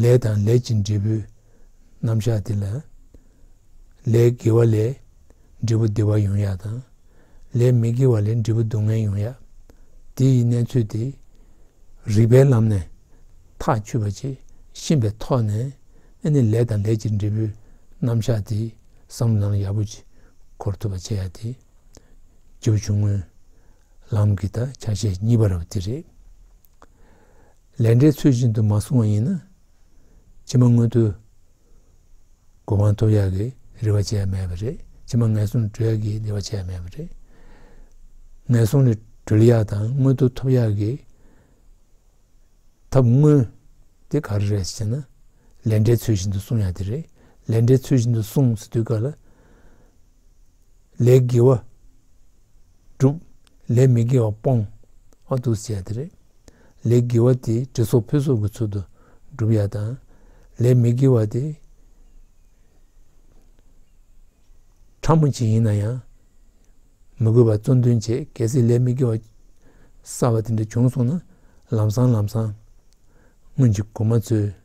A: ལས་དང་ལས་ཀྱི་འབྲས་བུའི་རྣམ་གཞག་འདི་ལ། ལས་དགེ་བ་ལས་འབྲས་བུ་བདེ་བ་ཡོང་ཡག་དང། ལས་མི་དགེ་བ་ལས་འབྲས་བུ་སྡུག་བསྔལ་ཡོང་ཡག། འདི་ཡི་གནས་ཚུལ་དེ། རིགས་པའི་ལམ་ནས་ཐག་ཆུད་པ་ཇི་བཞིན་པའི་ཐོག་ནས་ཨེ་ནི་ལས་དང་ལས་ཀྱི་འབྲས་བུའི་རྣམ་གཞག་འདི་བསམ་བློ་ནང་ཡག་པོ་གྱིས་འཁོར་ཐུབ་པ་བྱེད་ཡག་དེ། རྗེ་བོ་ཆུང་ངུའི་ལམ་གྱི་དག་ཆ་ཞེས་གཉིས་པ་ར་བ་དེ་རེད། ལས་འབྲས་ཚུལ་བཞིན་དུ་མ་སོང་བ་ཡིན་ན་ཕྱི་མ་སྔོན་དུ་དགོས་དབང་ཐོབ་ཡག་གི་རེ་བ་བྱས་ཡ་མེད་པ་རེད་ཕྱི་མ་ངན་སོང་གྲོལ་ཡག་གི་རེ་བ་བྱས་ཡ་མེད་པ་རེད། ངན་སོང་ནི་གྲོལ་ཡག་དང་སྔོན་དུ་ཐོབ་ཡག་གི་ཐབས་དངོས་དེ་ག་རེ་རེད་ཅེ་ན། ལས་འབྲས་ཚུལ་བཞིན་དུ་སོང་ཡག་དེ་རེད་ལས་འབྲས་ཚུལ་བཞིན་དུ་སོང་ཟེར་དུས་ག་ལ་ལས་དགེ་བ་བསྒྲུབ། ལས་མི་དགེ་བ་སྤོང། ཨ་ཐུག་བཅས་དེ་རེད། ལས་དགེ་བ་དེ་གྲི་སོགས་ཕུད་སོགས་ཀྱི་ཚུལ་དུ་བསྒྲུབ་ཡ་དང། ལས་མི་དགེ་བ་དེ། ཕྲ་མོ་ཅིག་ཡིན་ན་ཡང། མི་དགོས་པར་བཙོན་འདོན་བྱེད་གལ་སྲིད་ལས་མི་དགེ་བ་གསར་བ་དེ་འདྲ་བྱུང་སོང་ན་ལམ་སང་ལམ་སང། སྔོན་གྱི་གོང་མ་ཚོའི།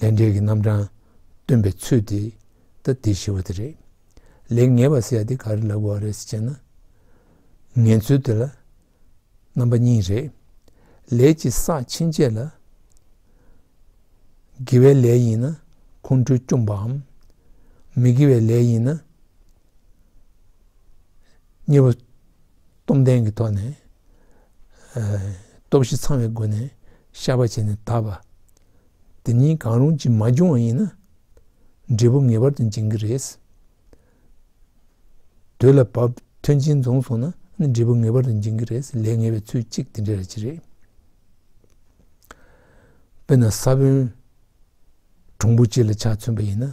A: ལས་འབྲས་ཀྱི་རྣམ་གྲངས་སྟོན་པའི་ཚུལ་དེ་ལྟ་དེ་ཞི་བ་དེ་རེད། ལེགས་ཉེས་པ་སེལ་ཡ་དེ་ག་རེ་ལ་གོ་བ་རེད་ཟེར་བྱས་ན། ངན་ཚུལ་དེ་ལ་རྣམ་པ་གཉིས་རེད། ལས་ཀྱི་ས་ཕྱིན་ཆད་ལ། དགེ་བའི་ལས་ཡིན་ན་ཁོང་ཁྲོའི་བཅོམ་པའམ། མི་དགེ་བའི་ལས་ཡིན་ན། གཉིས་པ། སྟོབས་ལྡན་གྱི་ཐོག་ནས། སྟོབས་བཞི་ཚང་བའི་སྒོ་ནས་ཤར་བ་བྱས་ནས་དག་པ། དེ་གཉིས་གང་རུང་གཅིག་མ་འབྱུང་བ་ཡིན་ན། འབྲས་བུ་ངེས་པར་དུ་འབྱིན་གྱི་རེད། དུས་ལ་བབ་མཐུན་རྐྱེན་བྱུང་སོང་ན་འབྲས་བུ་ངེས་པར་དུ་འབྱིན་གྱི་རེད། ལས་ངེས་པའི་ཚུལ་གཅིག་དེ་འདྲ་རེད་ཅི་རེད། དཔེར་ན་ས་བོན་གྲུང་པོ་གཅིག་ལ་ཆ་མཚོན་པ་ཡིན་ན།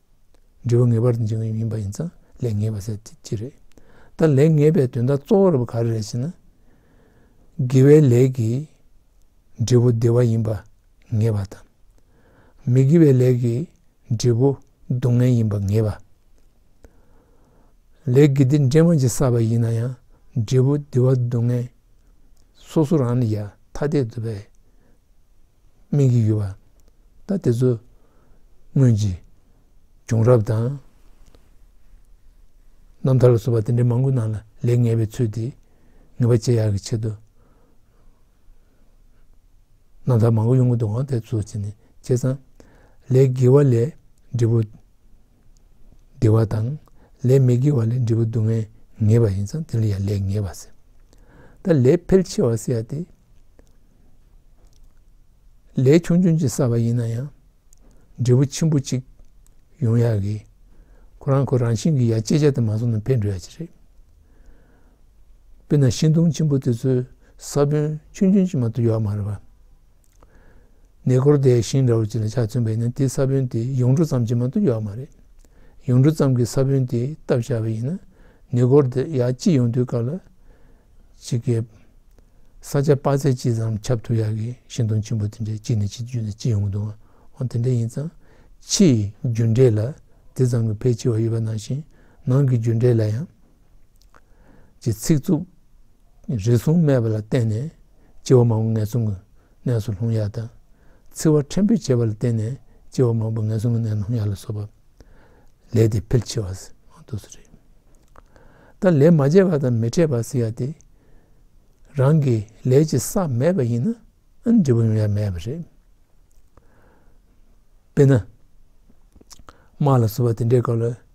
A: འབྲས་བུ་ངེས་པར་འབྱུང་བའི་མིན་པ་ཡིན་ཙང་ལས་ངེས་པ་ཟེར་དེ་ཅི་རེད། ད་ལས་ངེས་པའི་དོན་དག་གཙོ་བོ་རེད་པ་ག་རེ་རེད་ཟེར་ན། དགེ་བའི་ལས་ཀྱིས་འབྲས་བུ་བདེ་བ་ཡིན་པ་ངེས་པ་དང། མི་དགེ་བའི་ལས་ཀྱིས་འབྲས་བུ་སྡུག་བསྔལ་ཡིན་པ་ངེས་པ། ལས་དགེ་སྡིག་འདྲེས་མ་གཅིག་བསགས་པ་ཡིན་ན་ཡང་འབྲས་བུ་བདེ་བ་སྡུག་བསྔལ་སོ་སོ་རང་ལ་ཡ་ཐ་དད་དུ་བས། སྨིན་གྱི་ཡོད་པ་ད་དེ་ཚོ་སྔོན་གྱི་བྱུང་རབས་དང་རྣམ་ཐར་ལ་སོགས་པ་དེ་འདྲའི་མང་པོའི་ནང་ལ་ལས་ངེས་པའི་ཚུལ་དེ་ངེས་པ་འབྱེད་ཡག་གི་ཆེད་དུ་རྣམ་ཐར་མང་པོ་ཡོང་གི་འདུག་འོན་ཏེ་དེ་ཚོ་བྱས་ནས་བྱས་ཙང་ལས་དགེ་བ་ལས་འབྲས་བུ། བདེ་བ་དང། ལས་མི་དགེ་བ་ལས་འབྲས་བུ་སྡུག་བསྔལ་ངེས་པ་ཡིན་ཙང་དེ་ལ་ཡང་ལས་ངེས་པར་སེལ། ད་ལས་ཕལ་ཆེ་བ་སེལ་ཏེ། ལས་ཆུང་ཆུང་ཅིག་བསགས་པ་ཡིན་ན་ཡང། འབྲས་བུ་ཆེན་པོ་གཅིག་ཡོང་ཡག་གི། ཁོ་རང་ཁོ་རང་བཞིན་གྱིས་ཡར་སྐྱེད་བྱ་སྟེ་མ་བཟུང་ན་འཕེལ་འགྲོ་ཡག་ཅིག་རེད། དཔེར་ན་ཤིང་སྡོང་ཆེན་པོ་དེ་ཚོའི་ས་བོན་ཆུང་ཆུང་ཅིག་མ་གཏོགས་ཡོད་མ་རེད་པ། ནས་སྐོར་དེ་ཤིང་འདྲ་བོ་ཅིག་ལ་ཕྱག་བཙུམ་པས་ན་དེའི་ས་བོན་དེ་ཡུངས་འབྲུ་ཙམ་གྱིས་མ་གཏུགས་ཡོད་མ་རེད། ཡུངས་འབྲུ་ཙམ་གྱི་ས་བོན་དེ་བཏབ་བཞག་པ་ཡིན་ན་ནས་སྐོར་དེ་ཡར་སྐྱིད་ཡོང་དུས་སྐབས་ལ་ཕྱི་གའི་ས་ཆ་དཔག་ཚད་ཅི་ཙམ་ཁྱབ་ཐུབ་ཡག་གི་ཤིང་སྡོང་ཆེན་པོ་དེ་འདྲའི་དཀྱིལ་ནས་ཕྱིར་འཇུས་ན་སྐྱིད་ཡོང་འདུག་འོན་དེ་འདྲ་ཡིན་ཙང་ཕྱིའི་རྒྱུ་འབྲས་ལ་དེ་ཙམ་གྱི་ཕལ་ཆེ་བ་ཡོད་པ་ནང་བཞིན་ནང་གི་རྒྱུ་འབྲས་ལ་ཡང་ཀྱི་ཚིག་རྩུབ་རེ་ཟུང་སྨྲས་པ་ལ་བརྟེན་ནས་སྤྱི་བ་མང་པོ་ངན་སོང་གི་གནས་སུ་ལྷུང་ཡ་དང། ཚིག་བ་ཕྲན་བུས་བྱས་པ་ལ་བརྟེན་ནས་སྤྱི་བ་མང་པོ་ངན་སོང་གི་གནས་ན་ལྷུང་ཡ་ལ་སོགས་པ། ལས་དེ་ཕལ་ཆེ་བ་ཟེར་དུ་སུ་རེད། ད་ལས་མ་བྱས་པ་དང་མི་འཕྲད་པ་ཟེར་ཡ་དེ། རང་གི་ལས་ཀྱི་ས་མེད་པ་ཡིན་ན་འབྲས་བུ་ཡོང་ཡ་མེད་པ་རེད། དཔེར་ན། དམག་ལ་བསུ་བ་དེ་འདྲའི་སྐབས་ལ་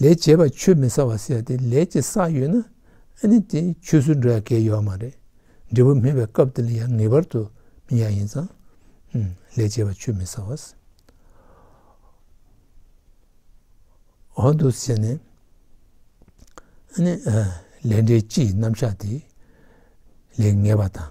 A: ལས་བྱེད་པ་ཆུད་མི་ཟ་བ་བསད་དེ་ལས་ཀྱི་ས་ཡོད་ན་ཨ་ནི་དེ་ཆུད་ཟོས་འགྲོ་ཡ་གལ་ཡོད་མ་རེད། འབྲས་བུ་སྨིན་པའི་སྐབས་དེ་ལ་ཡང་ངེས་པར་དུ་སྨིན་ཡ་ཡིན་ཙང། ལས་བྱེད་པ་ཆུད་མི་ཟ་བ། འོ་འདུག་ཟེར་ནས། ཨ་ནི། ལས་འབྲས་སྤྱི་ཡི་རྣམ་གཞག་དེ། ལས་ངེས་པ་དང།